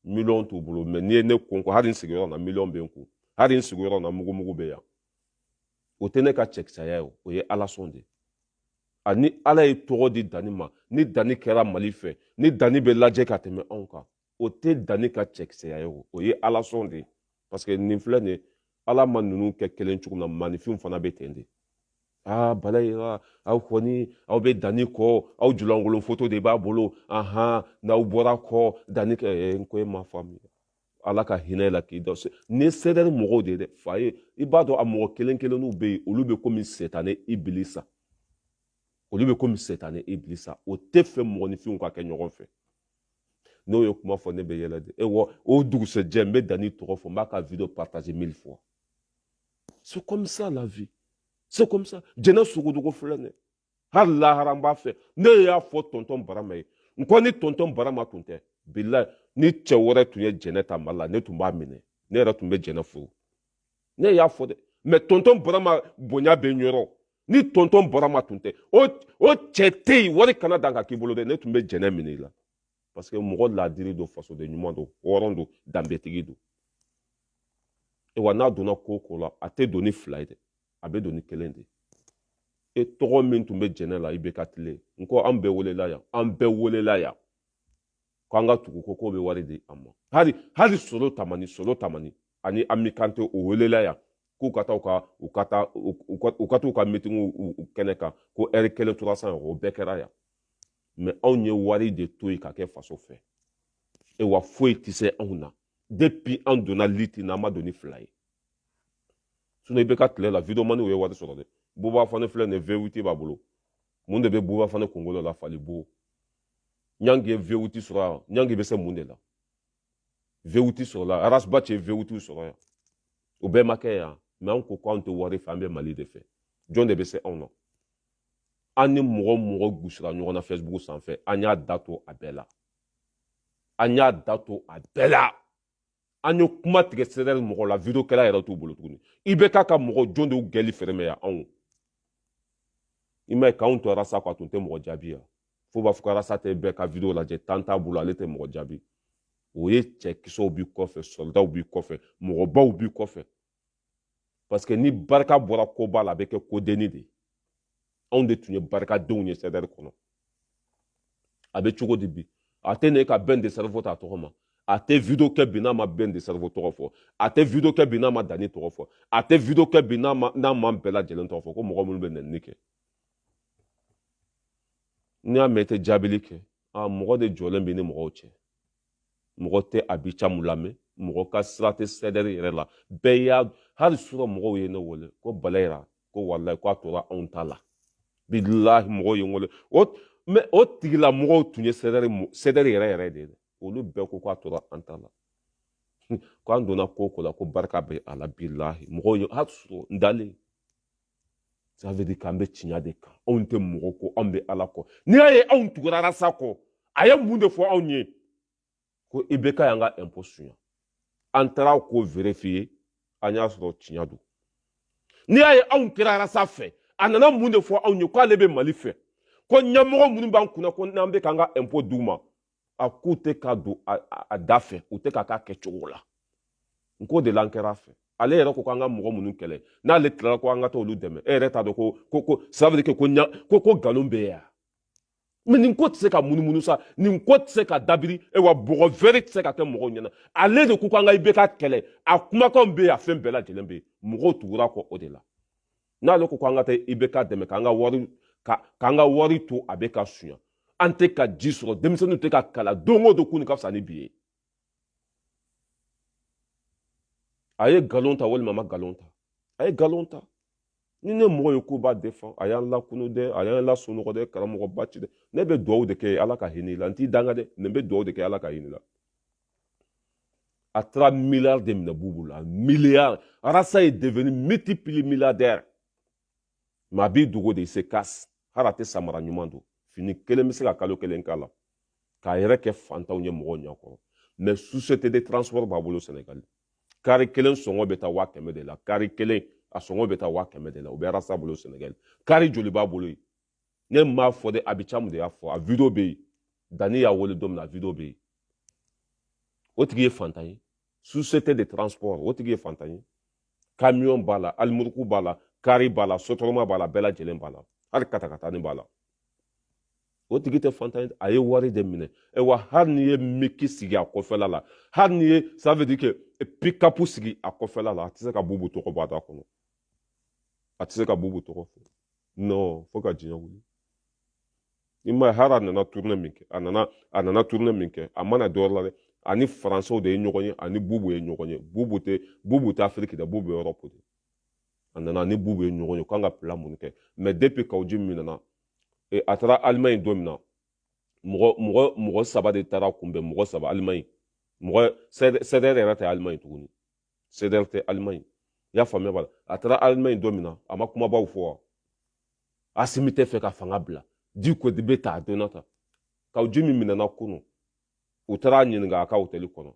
miliyɔn t'u bolo mais n'i ye ne kun ko hali n sigiyɔrɔ na miliyɔn bɛ n kun hali n sigiyɔrɔ na mugumugu bɛ yan o tɛ ne ka cɛkisɛya ye o ye ala sɔn de ani ala ye tɔgɔ di dani ma ni dani kɛra mali fɛ ni dani bɛ lajɛ ka tɛmɛ anw kan o tɛ dani ka cɛkisɛya ye o o ye ala sɔn de ye parce que nin filɛ nin ye ala ma ninnu kɛ kelen cogo min na maninfinw fana bɛ ten de aa bala ye aw kɔni aw bɛ dani kɔ aw julankolon foto de b'a bolo ahan n'aw bɔra kɔ dani kɛ n ko e ma faamuya ala ka hinɛ la k'i da ni sɛdɛri mɔgɔw de ye dɛ fa ye i b'a dɔn a mɔgɔ kelen kelenninw bɛ yen olu bɛ komi sɛtanɛ ibilisa olu bɛ komi sɛtanɛ ibilisa o tɛ fɛ mɔgɔninfinw ka kɛ ɲɔgɔn fɛ n'o ye kuma fɔ ne bɛ yɛlɛ de e wɔ o dugusɛjɛ n bɛ dani tɔgɔ fɔ n b'a ka video partager mille fois c'est comme ça la vie c'est comme ça jɛnɛ sogodogo filɛ nin ye hali lahara n b'a fɛ ne y'a fɔ tɔntɔn barama ye n ko ni tɔntɔn barama tun tɛ bilayi ni cɛ wɛrɛ tun ye jɛnɛ ta mali la ne tun b'a minɛ ne yɛrɛ tun bɛ jɛnɛ furu ne y'a fɔ dɛ mais tɔntɔn barama bonya bɛ n yɔrɔ ni tɔntɔn barama tun tɛ o cɛ tɛ yen wari kana dan ka k'i bolo dɛ ne tun bɛ jɛnɛ minɛ i la parce que mɔgɔ laadiri don fasoden ɲuman don hɔrɔn don danbetigi don e wa n'a donna ko o ko la a tɛ don ni fila ye dɛ a bɛ don ni kelen de e tɔgɔ min tun bɛ jɛnɛ la ibeka tile n ko an bɛɛ welela yan an bɛɛ welela yan k'an ka tugu o kɔ k'o bɛ wari di an ma hali hali solo tamani solo tamani ani ami kante o welela yan k'u ka taa u ka u ka taa u ka t'u ka mitingu kɛnɛ kan ko ɛri kelen trois cents euros o bɛɛ kɛra yan mais anw ye wari de to yen ka kɛ faso fɛ e wa foyi tɛ se anw na depuis an donna liti na an ma don ni fila ye sinon ibeka tile la videomaniw ye wari sɔrɔ dɛ buba fane filɛ nin ye vewiti b'a bolo mun de bɛ buba fane kunkolo la fali bo ɲangi ye vewiti sɔrɔ yan ɲangi bɛ se mun de la vewiti sɔrɔla arasbat ye vewitiw sɔrɔ yan o bɛɛ ma kɛ yan mais an ko ko anw tɛ wari fɛ an bɛ mali de fɛ jɔn de bɛ se anw na an ni mɔgɔ mɔgɔ gosira ɲɔgɔn na facebook sanfɛ an y'a da to a bɛɛ la an y'a da to a bɛɛ la an ye kuma tigɛ sɛdɛri mɔgɔ la video kɛla yɛrɛ t'u bolo tuguni ibeka ka mɔgɔ jɔn de y'u gɛli fɛrɛmɛ yan anw i m'a ye k'anw to arasa kɔ a tun tɛ mɔgɔ jaabi yan fo b'a fɔ ko arasa tɛ bɛɛ ka video lajɛ temps t'a bolo ale tɛ mɔgɔ jaabi o ye cɛkisɛw b'i kɔfɛ sɔlidaw b'i kɔfɛ mɔgɔbaw b'i kɔfɛ parce que ni barika bɔra koba la a bɛ kɛ kodenni de ye anw de tun ye barikadenw ye sɛdɛri kɔnɔ a bɛ cogo di bi a tɛ ne ka ben le cerveau ta tɔgɔ ma a tɛ video kɛ bi n'a ma ben le cerveau tɔgɔ fɔ a tɛ video kɛ bi n'a ma dani tɔgɔ fɔ a tɛ video kɛ bi n'a ma n'a ma bɛɛ lajɛlen tɔgɔ fɔ ko mɔgɔ minnu bɛ nɛni kɛ n'i y'a mɛn i tɛ jaabili kɛ a mɔgɔ de jɔlen bɛ ni mɔgɔw cɛ mɔgɔ tɛ abicamu lamɛn mɔgɔ ka sira tɛ CDR yɛrɛ la bɛɛ y'a hali sura mɔgɔw ye ne wele ko balayira ko walayi ko a tora anw ta la bilahi mɔgɔw ye n wele o mais o tigila mɔgɔw tun ye CDR CDR yɛrɛ yɛrɛ de ye dɛ olu bɛɛ ko ko a tora an ta la ko an donna ko ko la ko barika bɛ a la bilahi mɔgɔw ye hali sura n dalen ça veut dire k'an bɛ tiɲɛ de kan anw tɛ mɔgɔ kɔ anw bɛ ala kɔ n'i y'a ye anw tugura arasa kɔ a ye mun de fɔ anw ye ko IBK y'an ka impôt suɲɛ an taara k'o vérifier an y'a sɔrɔ tiɲɛ don n'i y'a ye anw kɛra arasa fɛ a nana mun de fɔ anw ye k'ale bɛ mali fɛ ko ɲɛmɔgɔ minnu b'an kunna ko n'an bɛ k'an ka impôt d'u ma a k'u tɛ k'a don a da fɛ u tɛ k'a k'a kɛcogo la n k'o de la an kɛra a fɛ ale yɛrɛ ko k'an ka mɔgɔ minnu kɛlɛ n'ale tilala ko an ka t'olu dɛmɛ e yɛrɛ t'a dɔn ko ko ko ça veut dire que ko ɲa ko ko nkalon bɛ yan mais nin ko tɛ se ka munumunu sa nin ko tɛ se ka dabiri e wa bɔgɔ vɛri tɛ se ka kɛ mɔgɔw ɲɛ na ale de ko k'an ka IBK kɛlɛ a kumakanw bɛ yen a fɛn bɛɛ lajɛlen bɛ yen mɔgɔw tugura a kɔ o de la n'ale ko ko an ka taa IBK dɛmɛ k'an ka wari k'an ka wari to a bɛ ka suɲa an tɛ ka ji sɔrɔ denmisɛnninw tɛ ka kalan don o don kunun ka fisa ni bi ye a ye nkalon ta walima a ma nkalon ta a ye nkalon ta ni ne mɔgɔ ye k'o b'a défend a y'an lakunu dɛ a y'an lasunɔgɔ dɛ karamɔgɔba ci dɛ ne bɛ dugawu de kɛ ala ka hinɛ i la n t'i danga dɛ ne bɛ dugawu de kɛ ala ka hinɛ i la a taara miliyari de minɛ bubu la miliyari arasa est devenu multimilliardaire mais a b'i dogo de il se cache hali a tɛ samara ɲuman don fini kelen bɛ se ka kalo kelen k'a la k'a yɛrɛ kɛ fantan ye mɔgɔw ɲɛkɔrɔ mais société de transport b'a bolo sɛnɛgali kari kelen sɔngɔ bɛ taa waa kɛmɛ de la kari kelen a sɔngɔ bɛ taa waa kɛmɛ de la o bɛ arasa bolo sɛnɛgali kari joli b'a bolo yen ne m'a fɔ dɛ abicamu de y'a fɔ a video bɛ yen dani y'a wele don min na a video bɛ yen o tigi ye fantan ye société de transport o tigi ye fantan ye camion b'a la alimuruku b'a la kari b'a la sotrama b'a la bɛɛ lajɛlen b'a la hali katakatani b'a la o tigi tɛ fantan ye a ye wari de minɛ wa hali n'i ye miki sigi a kɔfɛla la hali n'i ye ça veut dire que pikapu sigi a kɔfɛla la a tɛ se ka bubu tɔgɔ bɔ a da kɔnɔ a tɛ se ka bubu tɔgɔ fɔ non fo ka diɲɛ wuli i m'a ye hali a nana tournée min kɛ a nana a nana tournée min kɛ a ma na dɔwɛrɛ la dɛ a ni faransɛw de ye ɲɔgɔn ye a ni bubu ye ɲɔgɔn ye bubu tɛ bubu tɛ afiriki dɛ bubu ye Europe de a nana a ni bubu ye ɲɔgɔn ye k'an ka plan mun kɛ mais depuis kawuji min nana e, a taara alimaɲi don min na mɔgɔ mɔgɔ mɔgɔ saba de taara a kunbɛn mɔgɔ saba alimaɲi mɔgɔ CDR yɛrɛ tɛ alimaɲi tuguni CDR tɛ alimaɲi i y'a faamuya b'a la a taara alimaɲi don min na a ma kumabaw fɔ wa asimi tɛ fɛ ka fanga bila diko de bɛ ta a donna ta kawu jimi minɛna kunun u taara a ɲininka a ka hotɛli kɔnɔ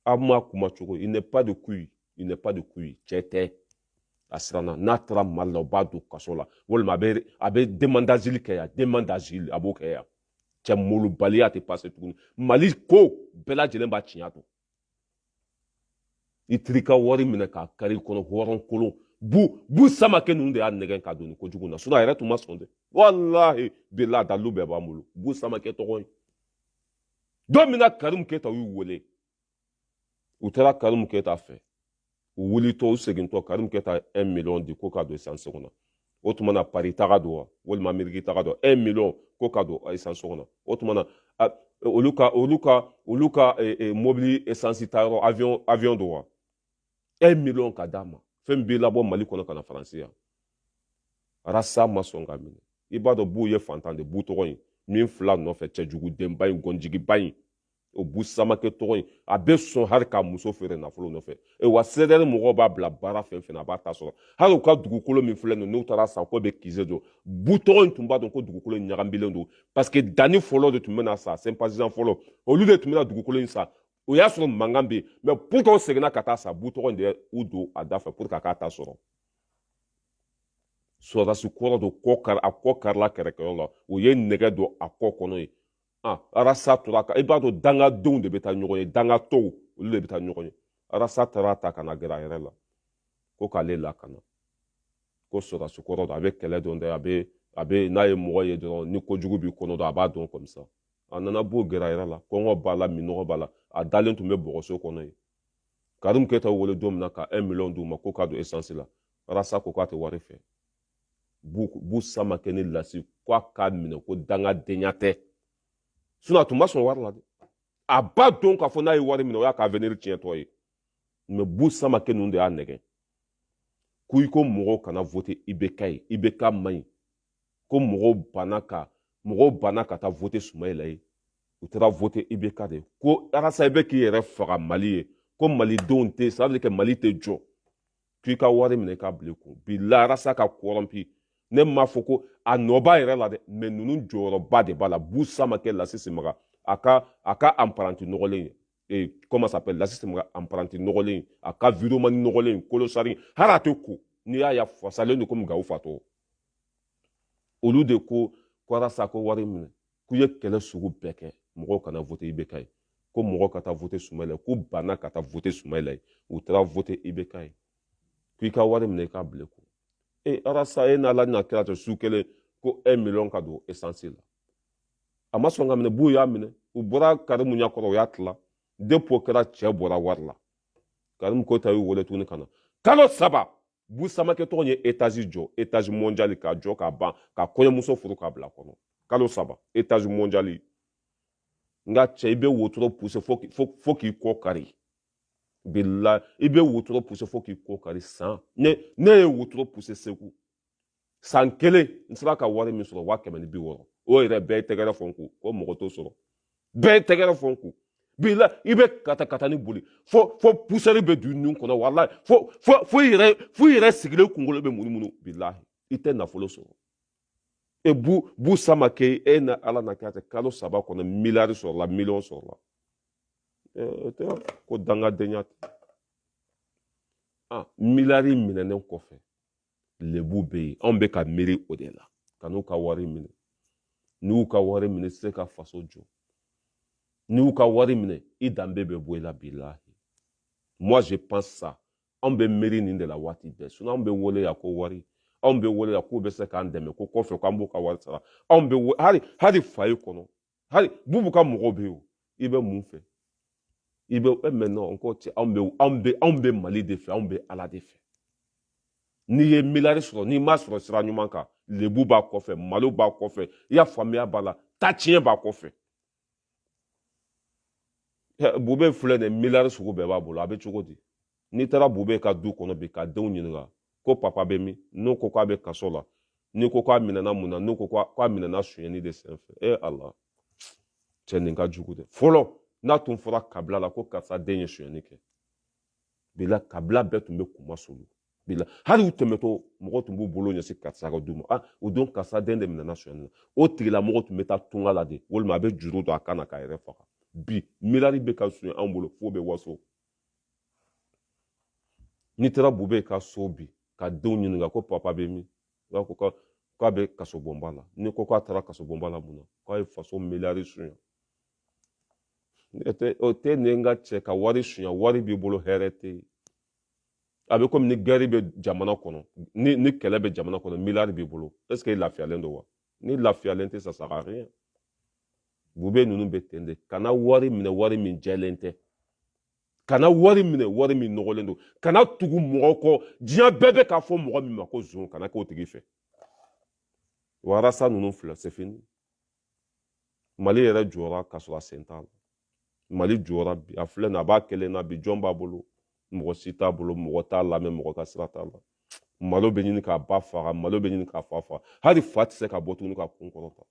a ma kuma cogo il n'est pas de couille il n'est pas de couille cɛ tɛ a siranna n'a taara mali la u b'a don kaso la walima a bɛ a bɛ demande d'asile kɛ yan demande d'asile a b'o kɛ yan cɛ molobaliya tɛ passé tuguni mali ko bɛɛ lajɛlen b'a tiɲɛ don i tiri ka wari minɛ k'a kari kɔnɔ hɔrɔn kolon bu bu samakɛ ninnu de y'a nɛgɛn k'a don nin kojugu na sinon a yɛrɛ tun ma sɔn dɛ walahi bilahi a dalilu bɛɛ b'an bolo bu samakɛ tɔgɔ ye don min na karimu keyita y'u wele u taara karimu keyita fɛ u wulitɔ u segintɔ karimu keyita 1 million di ko k'a don esansi kɔnɔ o tuma na pari taga don wa walima ameriki taga don 1 million ko k'a don esansi kɔnɔ o tuma na olu ka olu ka olu ka e, e, mobili esansi ta yɔrɔ avion avion don wa 1 million ka d'a ma fɛn b'i labɔ mali kɔnɔ ka na faransi yan rasa ma sɔn k'a minɛ i b'a dɔn bu ye fantan de bu tɔgɔ in min filɛ a nɔfɛ cɛjugudenba in gɔnjigiba in o bu samakɛ tɔgɔ in a bɛ sɔn hali k'a muso feere nafolo nɔfɛ e wa CDR mɔgɔw b'a bila baara fɛn o fɛn a b'a ta sɔrɔ hali u ka dugukolo min filɛ nin n'u taara san ko bɛ QG don bu tɔgɔ in tun b'a dɔn ko dugukolo in ɲagaminen don parce que danni fɔlɔ de tun bɛna san sympathisant fɔlɔ olu de tun bɛna dugukolo in san o y'a sɔrɔ mankan bɛ yen mais pour que u seginna ka taa san bu tɔgɔ in de y'u don a da fɛ pour que a k'a ta sɔrɔ sɔrɔdasi kɔrɔ don kɔ kari a kɔ karila kɛrɛkɛyɔrɔ la o ye nɛgɛ don a kɔ kɔnɔ ye ah, arasa tora i b'a dɔn dangadenw de bɛ taa ɲɔgɔn ye dangatɔw olu de bɛ taa ɲɔgɔn ye arasa taara a ta ka na gɛrɛ a yɛrɛ la ko k'ale lakana ko sɔrɔdasi kɔrɔ don a bɛ kɛlɛ dɔn dɛ a bɛ a bɛ n'a ye mɔgɔ ye dɔrɔn ni kojugu b'i kɔnɔ dɔrɔn a b'a dɔn comme ça a nana bu gɛrɛ a yɛrɛ la kɔngɔ b'a la minnɔgɔ b'a la a dalen tun bɛ bɔgɔso kɔnɔ yen karimu keyita wele don min na ka un million d'u ma ko k'a don esansi la arasa ko k'a tɛ wari fɛ bu samakɛ ni lasi k'a k'a minɛ ko dangadenya tɛ sinon a tun ma sɔn wari la dɛ a b'a dɔn k'a fɔ n'a ye wari minɛ o y'a ka avenir tiɲɛtɔ ye mais bu samakɛ ninnu de y'a nɛgɛn ko i ko mɔgɔw kana voter IBK ye IBK man ɲi ko mɔgɔw banna ka mɔgɔw banna ka taa voter sumayila ye u taara voter IBK de ko arasa i bɛ k'i yɛrɛ faga mali ye ko malidenw tɛ c'est-à-dire que mali tɛ jɔ k'i ka wari minɛ k'a bila i kun bilahi arasa ka corrompu ne m'a fɔ ko a nɔ b'a yɛrɛ la dɛ mais ninnu jɔyɔrɔba de b'a la bu samakɛ lasi simaga a ka a ka apprenti nɔgɔlen ye ee comment s'appelle lasi simaga apprenti nɔgɔlen a ka vidéoman nɔgɔlen kolosari hali a tɛ ko n'i y'a ye a fasalen don komi gawo fatɔ olu de ko arasa ko wari minɛ k'u ye kɛlɛ sugu bɛɛ kɛ mɔgɔw kana vote IBK ye ko mɔgɔw ka taa vote sumayila ye k'u banna ka taa vote sumayila ye u taara vote IBK ye ko i ka wari minɛ i k'a bila ko e arasa e n'ala n'a kira cɛ su kelen ko un miliyɔn k'a don esansi la a ma sɔn k'a minɛ bu y'a minɛ u bɔra karimu ɲɛ kɔrɔ u y'a tila depi o kɛra cɛ bɔra wari la karimu keyita y'u wele tuguni ka na kalo saba bu samakɛ tɔgɔ ye etazi jɔ etazi mɔnjali k'a jɔ k'a ban ka kɔɲɔmuso furu k'a bila kɔnɔ kalo saba etazi mɔnjali nka cɛ i bɛ wotoro puse fo k'i kɔ kari bilahi i bɛ wotoro puse fo k'i kɔ kari san ne ne ye wotoro puse segu san kelen n sera ka wari min sɔrɔ waa kɛmɛ ni bi wɔɔrɔ o yɛrɛ bɛɛ ye tɛgɛrɛ fɔ n kun ko mɔgɔ t'o sɔrɔ bɛɛ ye tɛgɛrɛ fɔ n kun bilahi i bɛ katakatani boli fo fo pusɛri bɛ don i nun kɔnɔ walayi fo fo fo i yɛrɛ fo i yɛrɛ sigilen kunkolo bɛ munumunu bilahi i tɛ nafolo sɔrɔ e bu bu samakɛ e n'ala n'a kira cɛ kalo saba kɔnɔ miliyari sɔrɔla miliyɔn sɔrɔla o tɛ ko dangadenya tɛ a miliyari minɛnen kɔfɛ lebu bɛ yen anw bɛ ka miiri o de la kan'u ka wari minɛ n'i y'u ka wari minɛ se ka faso jɔ n'i y'u ka wari minɛ i danbe bɛ bɔ i la bilahi moi je pense ça anw bɛ miiri nin de la waati bɛɛ sinɔn anw bɛ wele yan ko wari anw bɛ wele yan k'u bɛ se k'an dɛmɛ ko kɔfɛ k'an b'u ka wari sara anw bɛ hali hali fayi kɔnɔ hali bubu ka mɔgɔw bɛ yen o i bɛ mun fɛ i bɛ e mais non ko cɛ anw bɛ anw bɛ anw bɛ mali de fɛ anw bɛ ala de fɛ n'i ye miliyari sɔrɔ n'i m'a sɔrɔ sira ɲuman kan lebu b'a kɔfɛ malo b'a kɔfɛ i y'a faamuya b'a la ta tiɲɛ b'a kɔfɛ bube filɛ nin miliyari sugu bɛɛ b'a bolo a bɛ cogo di n'i taara bube ka du kɔnɔ bi k'a denw ɲininka ko papa bɛ min n'u ko k'a bɛ kaso la n'i ko k'a minɛna mun na n'u ko k'a minɛna sonyɛni de senfɛ e ala cɛ nin ka jugu dɛ fɔlɔ n'a tun fɔra kabila la ko karisa den ye sonyɛni kɛ bilahi kabila bɛɛ tun bɛ kunmasuuli bilahi hali u tɛmɛtɔ mɔgɔ tun b'u bolo ɲɛsin karisa ka du ma ah o don karisa den de minɛna sonyɛni na o tigilamɔgɔ tun bɛ taa tunga la de walima a bɛ juru don a kan na k'a yɛrɛ faga bi miliyari bɛ ka suɲɛ anw bolo f'u bɛ waso n'i taara bube ka so bi k'a denw ɲininka ko papa bɛ min u ko k'a bɛ kasobonba la n'i ko k'a taara kasobonba la mun na k'a ye faso miliyari suɲɛ o tɛ ne ka cɛ ka wari suɲɛ wari b'i bolo hɛrɛ tɛ yen a bɛ komi ni gɛri bɛ jamana kɔnɔ ni ni kɛlɛ bɛ jamana kɔnɔ miliyari b'i bolo ɛseke i lafiyalen don wa n'i lafiyalen tɛ ça sert à rien bube ninnu bɛ ten de kana wari minɛ wari min jɛlen tɛ kana wari minɛ wari min nɔgɔlen don kana tugu mɔgɔ kɔ diɲɛ bɛɛ bɛ k'a fɔ mɔgɔ min ma ko zon kana k'o tigi fɛ wa arasa ninnu filɛ c'est fini mali yɛrɛ jɔra ka sɔrɔ a sen t'a la mali jɔra bi a filɛ nin a b'a kelen na bi jɔn b'a bolo mɔgɔ si t'a bolo mɔgɔ t'a lamɛn mɔgɔ ka sira t'a la malo bɛ ɲini k'a ba faga malo bɛ ɲini k'a fa faga hali fa tɛ se ka bɔ tuguni k'a kun kɔrɔta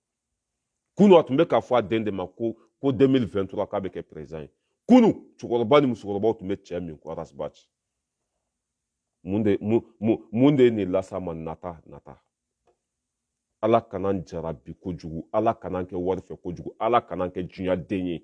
kunu a tun bɛ k'a fɔ a den de ma ko ko 2023 k'a bɛ kɛ président ye kunu cɛkɔrɔba ni musokɔrɔbaw tun bɛ cɛ min kɔ arasibaci mun de mun mun mun de ye nin las'a ma nata nata ala kan'an jarabi kojugu ala kan'an kɛ wari fɛ kojugu ala kan'an kɛ diɲɛ den ye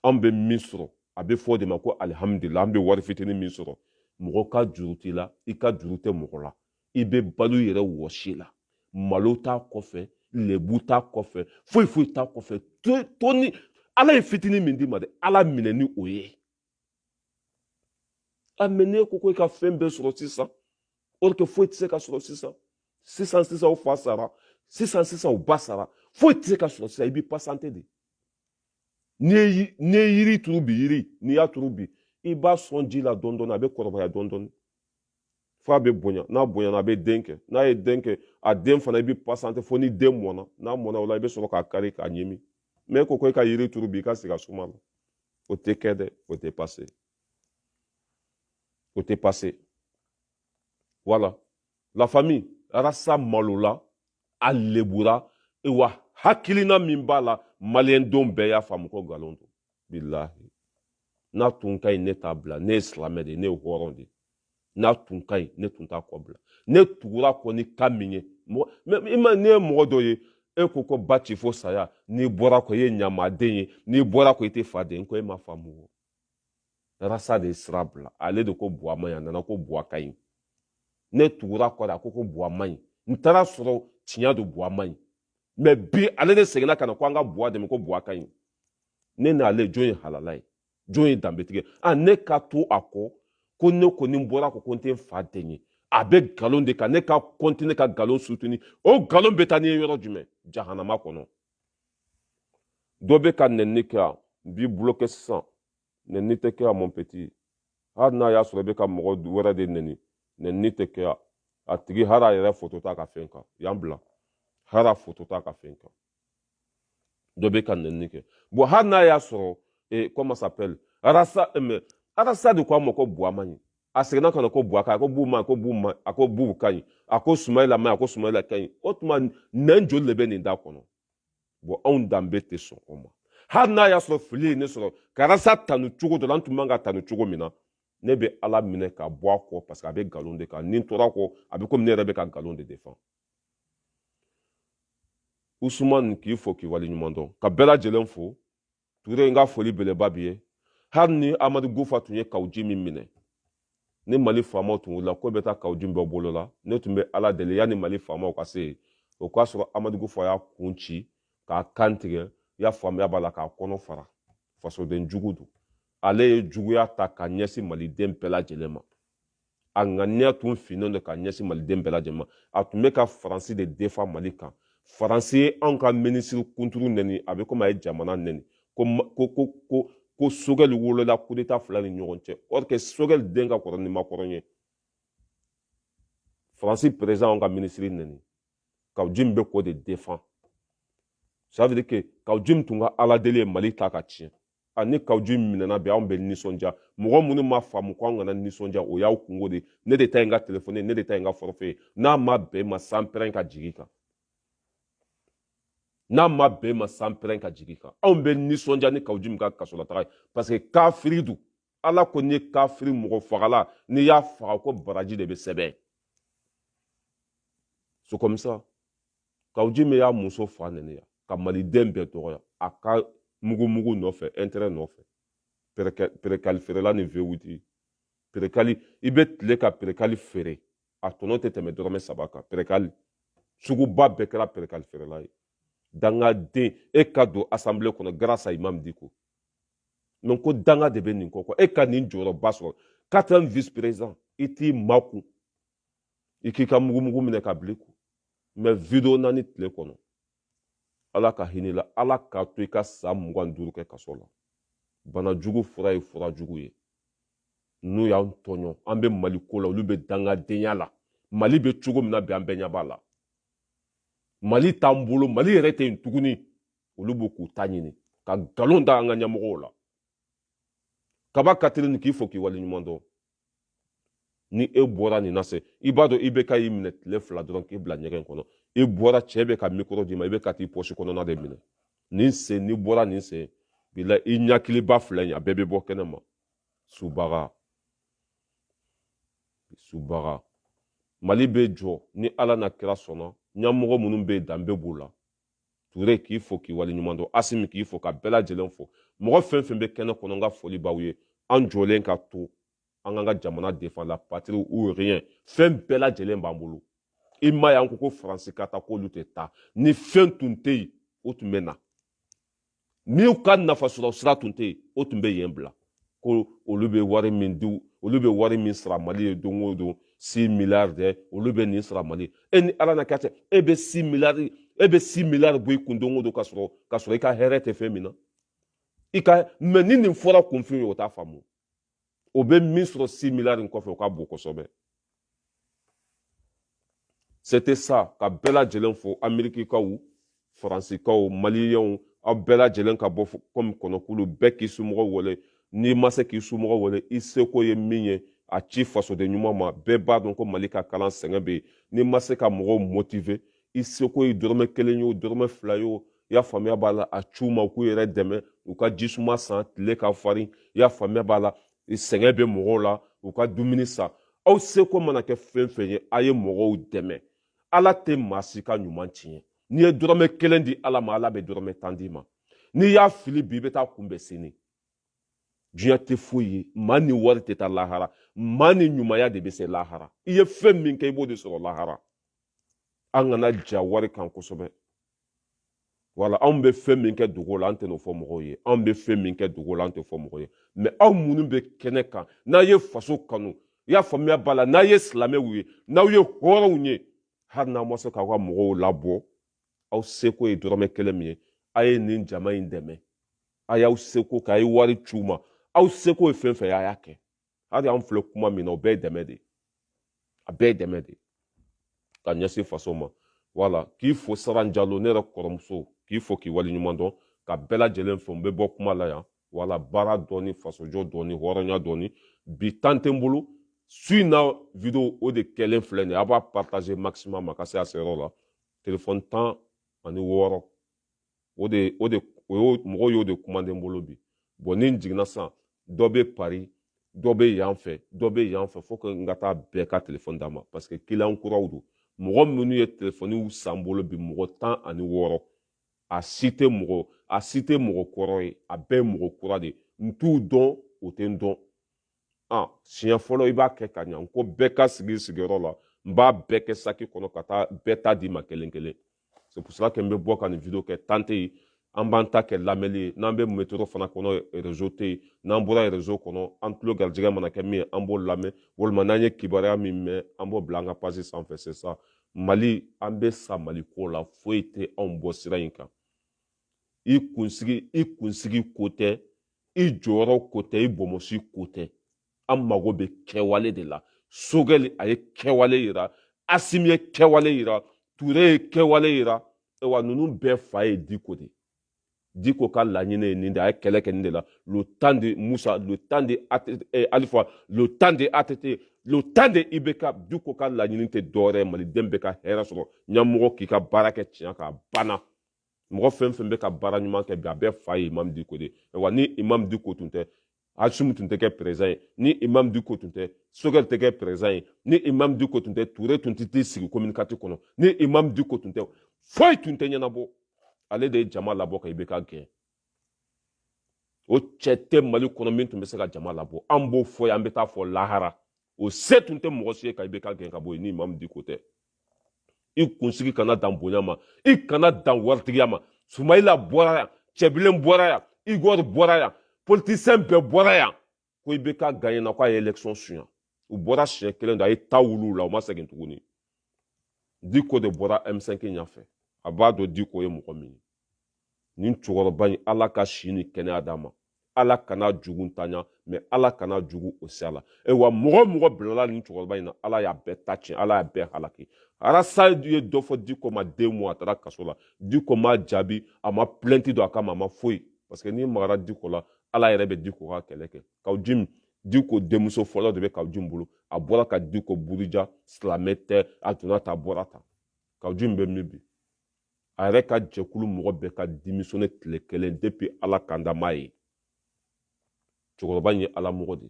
an bɛ min sɔrɔ a bɛ fɔ o de ma ko alihamudulila an bɛ wari fitinin min sɔrɔ mɔgɔ ka juru t'i la i ka juru tɛ mɔgɔ la i bɛ balo yɛrɛ wɔsi la malo t'a kɔfɛ lebu t'a kɔfɛ foyi foyi t'a kɔfɛ to ni ala ye fitinin min d'i ma dɛ ala minɛ ni o ye a mais n'e ko ko i ka fɛn bɛɛ sɔrɔ sisan or que foyi tɛ se ka sɔrɔ sisan sisan sisan o fa sara sisan sisan o ba sara foyi tɛ se ka sɔrɔ sisan i b'i pasante de n'i ye n'i ye yiri turu bi yiri n'i y'a turu bi i b'a sɔn ji la dɔɔni dɔɔni a bɛ kɔrɔbaya dɔɔni dɔɔni f'a bɛ bonya n'a bonyana a bɛ den kɛ n'a ye den kɛ a den fana i bɛ pasante fo ni den mɔna n'a mɔna o la i bɛ sɔrɔ k'a kari k'a ɲimi mais ko ko i ka yiri turu bi i ka sigi a suma la o tɛ kɛ dɛ o tɛ pase o tɛ pase voilà la famille arasa malola a lebura e wa hakilina min b'a la maliyɛndenw bɛɛ y'a faamu ko nkalon don bilahi n'a tun ka ɲi ne t'a bila ne ye silamɛ de ye ne ye hɔrɔn de ye n'a tun ka ɲi ne tun t'a kɔ bila ne tugura kɔ ni ka min ye mɔgɔ i ma ne ye mɔgɔ dɔ ye e ko ko baci fo saya n'i bɔra kɔ i ye ɲamaden ye n'i bɔra kɔ i tɛ fa den ko e ma faamu arasa de ye sira bila ale de ko buwa man ɲi a nana ko buwa ka ɲi ne tugura kɔ de a ko ko buwa man ɲi n taara sɔrɔ tiɲɛ don buwa man ɲi mais bi ale de seginna ka na ko an ka buwa dɛmɛ ko buwa ka ɲi ne n'ale jɔn ye halala ye jɔn ye danbetigi ye ne ka to a kɔ ko ne kɔni bɔra kɔ ko n tɛ n fa den ye a bɛ nkalon de kan ne ka kɔntine ka nkalon sutuni o nkalon bɛ taa n'i ye yɔrɔ jumɛn jahanama kɔnɔ dɔ bɛ ka nɛni kɛ yan n b'i bulokɛ sisan nɛni tɛ kɛ yan mon petit hali n'a y'a sɔrɔ i bɛ ka mɔgɔ wɛrɛ de nɛni nɛni tɛ kɛ yan a tigi hali a yɛrɛ foto t'a ka fɛn kan yan bila hali a foto t'a ka fɛn kan dɔ bɛ ka nɛni kɛ bon hali n'a y'a sɔrɔ eh, comment s'appelle arasa eh, mais arasa de ko a ma ko buwa man ɲi a seginna ka na ko buwa ka ɲi a ko bu man ɲi a ko bu man ɲi a ko bu ka ɲi a ko sumayila man ɲi a ko sumayila ka ɲi o tuma nɛn joli de bɛ nin da kɔnɔ bon anw danbe tɛ sɔn o ma hali n'a y'a sɔrɔ fili ye ne sɔrɔ ka arasa tanu cogo dɔ la n tun man ka tanu cogo min na ne bɛ ala minɛ ka bɔ a kɔ parce que a bɛ nkalon de kan ni n tora kɔ a bɛ komi ne yɛrɛ bɛ ka nkalon de défend usumani k'i fo k'i waleɲuman dɔn ka bɛɛ lajɛlen fo ture n ka foli beleba b'i ye hali ni amadu kufa tun ye kaw jim minɛ ni mali faamaw tun wulila ko bɛ taa kaw jim bɔ a bolo la ne tun bɛ ala deli yanni mali faamaw ka se yen o k'a sɔrɔ amadu kufa y'a kun ci k'a kan tigɛ y'a faamuya b'a la k'a kɔnɔ fara fasoden jugu don ale ye juguya ta ka ɲɛsin maliden bɛɛ lajɛlen ma a ŋaniya tun finnen don ka ɲɛsin maliden bɛɛ lajɛlen ma a tun bɛ ka faransi de défend mali kan faransi ye anw ka minisiri kuntigi nɛni a bɛ komi a ye jamana nɛni ko ko ko ko ko sogɛli wolola kudeta fila ni ɲɔgɔn cɛ or que sogɛli den ka kɔrɔ ni makɔrɔn ye faransi perezidan anw ka minisiri nɛni kaw jim bɛ k'o de défend ça veut dire que kaw jim tun ka ala deli ye mali ta ka tiɲɛ a ni kaw jim minɛna bi anw bɛ nisɔndiya mɔgɔ minnu ma faamu ko an kana nisɔndiya o y'aw kunko de ne de ta ye n ka telefɔni ne de ta ye n ka forfait ye n'a ma bɛn ma sanpɛrɛn ka jigin kan n'a ma bɛn ma sanpɛrɛn ka jigin kan anw bɛ nisɔndiya ni kaw jim ka kasolataga ye parce que kafiri don ala ko ni kafiri mɔgɔ fagala n'i y'a faga ko baraji de bɛ sɛbɛn c'est comme ça kaw jim y'a muso fa nɛni yan ka maliden bɛɛ dɔgɔya a ka mugumugu nɔfɛ intérêt nɔfɛ perekali feerela ni V huit perekali i bɛ tilen ka perekali feere a tɔnɔ tɛ tɛmɛ dɔrɔmɛ saba kan perekali suguba bɛɛ kɛra perekali feerela ye dangaden e ka don assemblée kɔnɔ grâce à imam diko mais ko danga de bɛ nin kɔ e ka nin jɔyɔrɔba sɔrɔ quatrième vice président i t'i makun i k'i ka mugumugu minɛ ka bila i kun mais video naani tile kɔnɔ ala ka hinɛ la ala k'a to i ka san mugan duuru kɛ kaso la bana jugu fura ye fura jugu ye n'u y'an tɔɲɔ an bɛ mali ko la olu bɛ dangadenya la mali bɛ cogo min na bi an bɛɛ ɲɛ b'a la mali t'an bolo mali yɛrɛ tɛ yen tuguni olu bɛ k'u ta ɲini ka nkalon da an ka ɲɛmɔgɔw la kaba katirini k'i fo k'i waleɲuman dɔn ni e bɔra nin na se i b'a dɔn ibk y'i minɛ tile fila dɔrɔn k'i bila ɲɛgɛn kɔnɔ i bɔra cɛ bɛ ka mikoro d'i ma i bɛ ka t'i pɔsi kɔnɔna de minɛ nin sen n'i bɔra nin sen bi la i ɲakiliba filɛ nin a bɛɛ bɛ bɔ kɛnɛ ma subaga subaga mali bɛ jɔ ni ala n'a kira sɔnna ɲɛmɔgɔ minnu bɛ yen danbe b'u la ture k'i fo k'i waleɲuman dɔn asimi k'i fo ka bɛɛ lajɛlen fo mɔgɔ fɛn fɛn bɛ kɛnɛ kɔnɔ n ka foli b'aw ye an jɔlen ka to an k'an ka jamana défend la patrie ou rien fɛn bɛɛ lajɛlen b'an bolo i m'a ye an ko ko faransi ka taa k'olu tɛ taa ni fɛn tun tɛ yen u tun bɛ na n'u ka nafasɔrɔ sira tun tɛ yen o tun bɛ yen bila ko olu bɛ wari min di olu bɛ wari min sara mali ye don o don si miliyari dɛ olu bɛ nin sara mali e ni ala na kɛ cɛ e bɛ si miliyari bɔ i kun don o don ka sɔrɔ i ka hɛrɛ tɛ fɛn min na mais ni nin fɔra kunfin ye o t'a faamu o bɛ min sɔrɔ si miliyari kɔfɛ o ka bon kosɛbɛ c'était ça ka bɛɛ lajɛlen fo amerikikaw faransikaw maliyɛnw aw bɛɛ lajɛlen ka bɔ kɔmi kɔnɔkulu bɛɛ k'i somɔgɔw wele n'i ma se k'i somɔgɔw wele i seko ye min ye a ci fasoden ɲuman ma bɛɛ b'a dɔn ko mali ka kalan sɛgɛn bɛ yen n'i ma se ka mɔgɔw motiver i seko ye dɔrɔmɛ kelen ye o dɔrɔmɛ fila ye o i y'a faamuya b'a la a ci u ma u k'u yɛrɛ dɛmɛ u ka jisuma san tile ka farin i y'a faamuya b'a la sɛgɛn bɛ mɔgɔw la u ka dumuni san aw seko mana kɛ fɛn fɛn ye a ye mɔgɔw dɛmɛ ala tɛ maa si ka ɲuman tiɲɛ n'i ye dɔrɔmɛ kelen di ala ma ala bɛ dɔrɔmɛ tan d'i ma n'i y'a fili bi i bɛ t'a kunbɛn sini diɲɛ tɛ foyi ye maa ni wari tɛ taa lahara maa ni ɲumanya de bɛ se lahara i ye fɛn min kɛ i b'o de sɔrɔ lahara an kana ja wari kan kosɛbɛ wala anw bɛ fɛn min kɛ dogo la an tɛn'o fɔ mɔgɔw ye anw bɛ fɛn min kɛ dogo la an t'a fɔ mɔgɔw ye mais aw minnu bɛ kɛnɛ kan n'a ye faso kanu i y'a faamuya b'a la n'a ye silamɛw ye n'aw ye hɔrɔnw ye hali n'aw ma se k'aw ka mɔgɔw labɔ aw seko ye dɔrɔmɛ kelen min ye a ye nin jama in dɛmɛ a y'aw seko kɛ a ye wari ci u ma aw seko ye fɛn fɛn ye a y'a kɛ hali an filɛ kuma min na o bɛɛ ye dɛmɛ de ye a bɛɛ ye dɛmɛ de ye ka ɲɛsin faso ma wala k'i fo saran jalo ne yɛrɛ kɔrɔmuso k'i fo k'i waleɲuman dɔn ka bɛɛ lajɛlen fo n bɛ bɔ kuma la yan wala baara dɔɔni fasojɔ dɔɔni hɔrɔnya dɔɔni bi temps tɛ n bolo su in na video o de kɛlen filɛ nin ye a b'a partager maximum a ka se a seyɔrɔ la telefɔni tan ani wɔɔrɔ o de o de o y'o mɔgɔw y'o de komande n bolo bi bon ni n jiginna sisan dɔ bɛ pari dɔ bɛ yan fɛ dɔ bɛ yan fɛ fo que n ka taa bɛɛ ka telefɔni d'a ma parce que kiliyan kuraw don mɔgɔ minnu ye telefɔniw san n bolo bi mɔgɔ tan ani wɔɔrɔ a si tɛ mɔgɔ a si tɛ mɔgɔ kɔrɔ ye a bɛɛ ye mɔgɔ kura de n t'u dɔn o tɛ n dɔn ah siɲɛ fɔlɔ i b'a kɛ ka ɲa n ko bɛɛ ka sigi sigiyɔrɔ la n b'a bɛɛ kɛ saki kɔnɔ ka taa bɛɛ ta d'i ma kelen kelen c'est pour cela que n bɛ bɔ ka nin video kɛ temps tɛ yen an b'an ta kɛ lamɛnni ye n'an bɛ metro fana kɔnɔ rezo tɛ yen n'an bɔra rezo kɔnɔ an tulo garijɛgɛ mana kɛ min ye an b'o lamɛn walima n'an ye kibaruya min mɛn an b'o bila an ka page sanfɛ c'est ça mali an bɛ sa mali ko la foyi tɛ anw bɔ sira in kan i kunsigi i kunsigi ko tɛ i jɔyɔrɔ ko tɛ i bɔnmɔsi ko tɛ an mago bɛ kɛwale de la sogɛli a ye kɛwale yira asimi ye kɛwale yira ture ye kɛwale yira wa ninnu bɛɛ fa ye diko de diko ka laɲini ye nin de a ye kɛlɛ kɛ nin de la le temps de musa le temps de eh, alifa le temps de atete le temps de ibeka diko ka laɲini tɛ dɔwɛrɛ ye maliden bɛɛ ka hɛrɛ sɔrɔ ɲɛmɔgɔ k'i ka baara kɛ tiɲɛ kan a banna mɔgɔ fɛn fɛn bɛ ka baara ɲuman kɛ bi a bɛɛ fa ye imam diko de wa ni imam diko tun tɛ asimi tun tɛ kɛ perezan ye ni imam diko tun tɛ sogɛli tɛ kɛ perezan ye ni imam diko tun tɛ ture tun tɛ t'i sigi kominikati kɔnɔ ni imam diko tun tɛ foyi tun tɛ ɲɛnabɔ ale de ye jama labɔ ka ibeka gɛn o cɛ tɛ mali kɔnɔ min tun bɛ se ka jama labɔ an b'o fɔ yan an bɛ taa fɔ lahara o se tun tɛ mɔgɔ si ye ka ibeka gɛn ka bɔ yen ni imam diko tɛ i kunsigi kana dan bonya ma i kana dan waritigiya ma sumayila bɔra yan cɛbilen bɔra yan igor bɔra yan politisiyɛn bɛɛ bɔra yan ko ibeka gaɲɛna ko a ye election suɲa u bɔra siɲɛ kelen dɔrɔn a ye ta wuli u la u ma segin tuguni diko de bɔra m5 ɲɛfɛ a b'a dɔn diko ye mɔgɔ min ye nin cɛkɔrɔba in ala ka si ni kɛnɛya d'a ma ala kan'a jugu ntanya mais ala kana juguw se a la ayiwa mɔgɔ mɔgɔ bilala nin cɛkɔrɔba in na ala y'a bɛɛ ta tiɲɛ ala y'a bɛɛ halaki ras ye dɔ fɔ diko ma deux mois a taara kaso la diko ma jaabi a ma plɛnti don a kama a ma foyi parce que n'i magara diko la ala yɛrɛ bɛ diko ka kɛlɛ kɛ kaw jim diko denmuso fɔlɔ de bɛ kaw jim bolo a bɔra ka diko buruja silamɛ tɛ a donna tan a bɔra tan kaw jim bɛ min bi a yɛrɛ ka jɛkulu mɔgɔ bɛɛ ka démissionné tile kelen depi ala kandama ye cɛkɔrɔba ye ala mɔgɔ de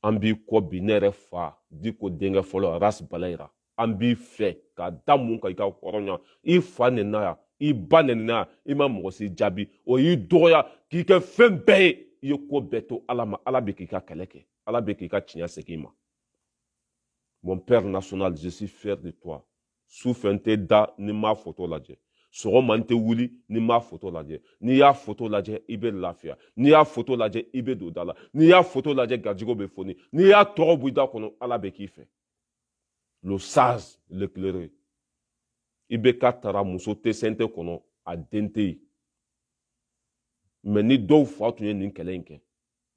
an b'i kɔ bi ne yɛrɛ fa diko denkɛ fɔlɔ ras balayira an b'i fɛ ka da mun kan i ka hɔrɔnya i fa nenina yan i ba nenina yan i ma mɔgɔ si jaabi o y'i dɔgɔya k'i kɛ fɛn bɛɛ ye i ye ko bɛɛ to ala ma ala bɛ k'i ka kɛlɛ kɛ ala bɛ k'i ka tiɲɛ segin i ma mon père national je suis fier de toi su fɛ n tɛ da ni n m'a foto lajɛ sɔgɔma n tɛ wuli ni n m'a foto lajɛ n'i y'a foto lajɛ i bɛ lafiya n'i y'a foto lajɛ i bɛ don da la n'i y'a foto lajɛ garijɛgɛw bɛ foni n'i y'a tɔgɔ bɔ i da kɔnɔ ala bɛ k'i fɛ le sage l'éclairé ibk taara muso tɛ cnt kɔnɔ a den tɛ yen mɛ ni dɔw fa tun ye nin kɛlɛ in kɛ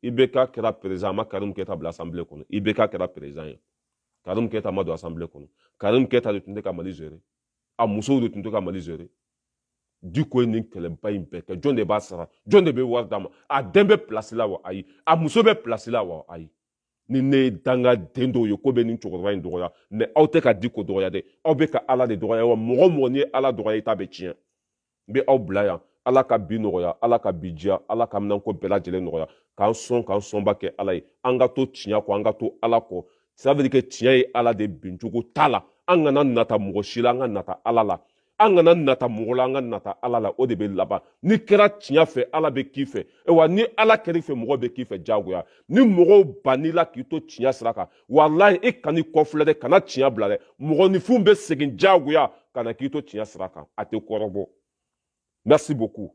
ibk kɛra perezidan a ma karim keyita bila asanbile kɔnɔ ibk kɛra perezidan ye karim keyita ma don asanbile kɔnɔ karim keyita de tun tɛ ka mali zere a musow de tun tɛ ka mali zere diko ye nin kɛlɛba in bɛɛ kɛ jɔn de b'a sara jɔn de bɛ wari d'a ma a den bɛ pilasi la wa ayi a muso bɛ pilasi la wa ayi ni ne ye dangaden dɔw ye k'u bɛ nin cɛkɔrɔba in dɔgɔya mɛ aw tɛ ka diko dɔgɔya dɛ aw bɛ ka ala de dɔgɔya wa mɔgɔ mɔgɔ n'i ye ala dɔgɔya i ta bɛ tiɲɛ n bɛ aw bila yan ala ka bi nɔgɔya ala ka bi diya ala ka minɛnko bɛɛ lajɛlen nɔgɔya k'an sɔn k'an sɔnba kɛ ala ye an ka to tiɲɛ kɔ an ka to ala kɔ ça veut dire que tiɲɛ ye ala de bincogo t'a la an kana nata mɔgɔ si la an ka nata ala la an kana nata mɔgɔ la an ka nata ala la o de bɛ laban n'i kɛra tiɲɛ fɛ ala bɛ k'i fɛ wa ni ala kɛr'i fɛ mɔgɔ bɛ k'i fɛ jagoya ni mɔgɔw bann'i la k'i to tiɲɛ sira kan walayi i kan'i kɔfilɛ dɛ kana tiɲɛ bila dɛ mɔgɔninfinw bɛ segin diyagoya ka na k'i to tiɲɛ sira kan a tɛ kɔrɔbɔ merci beaucoup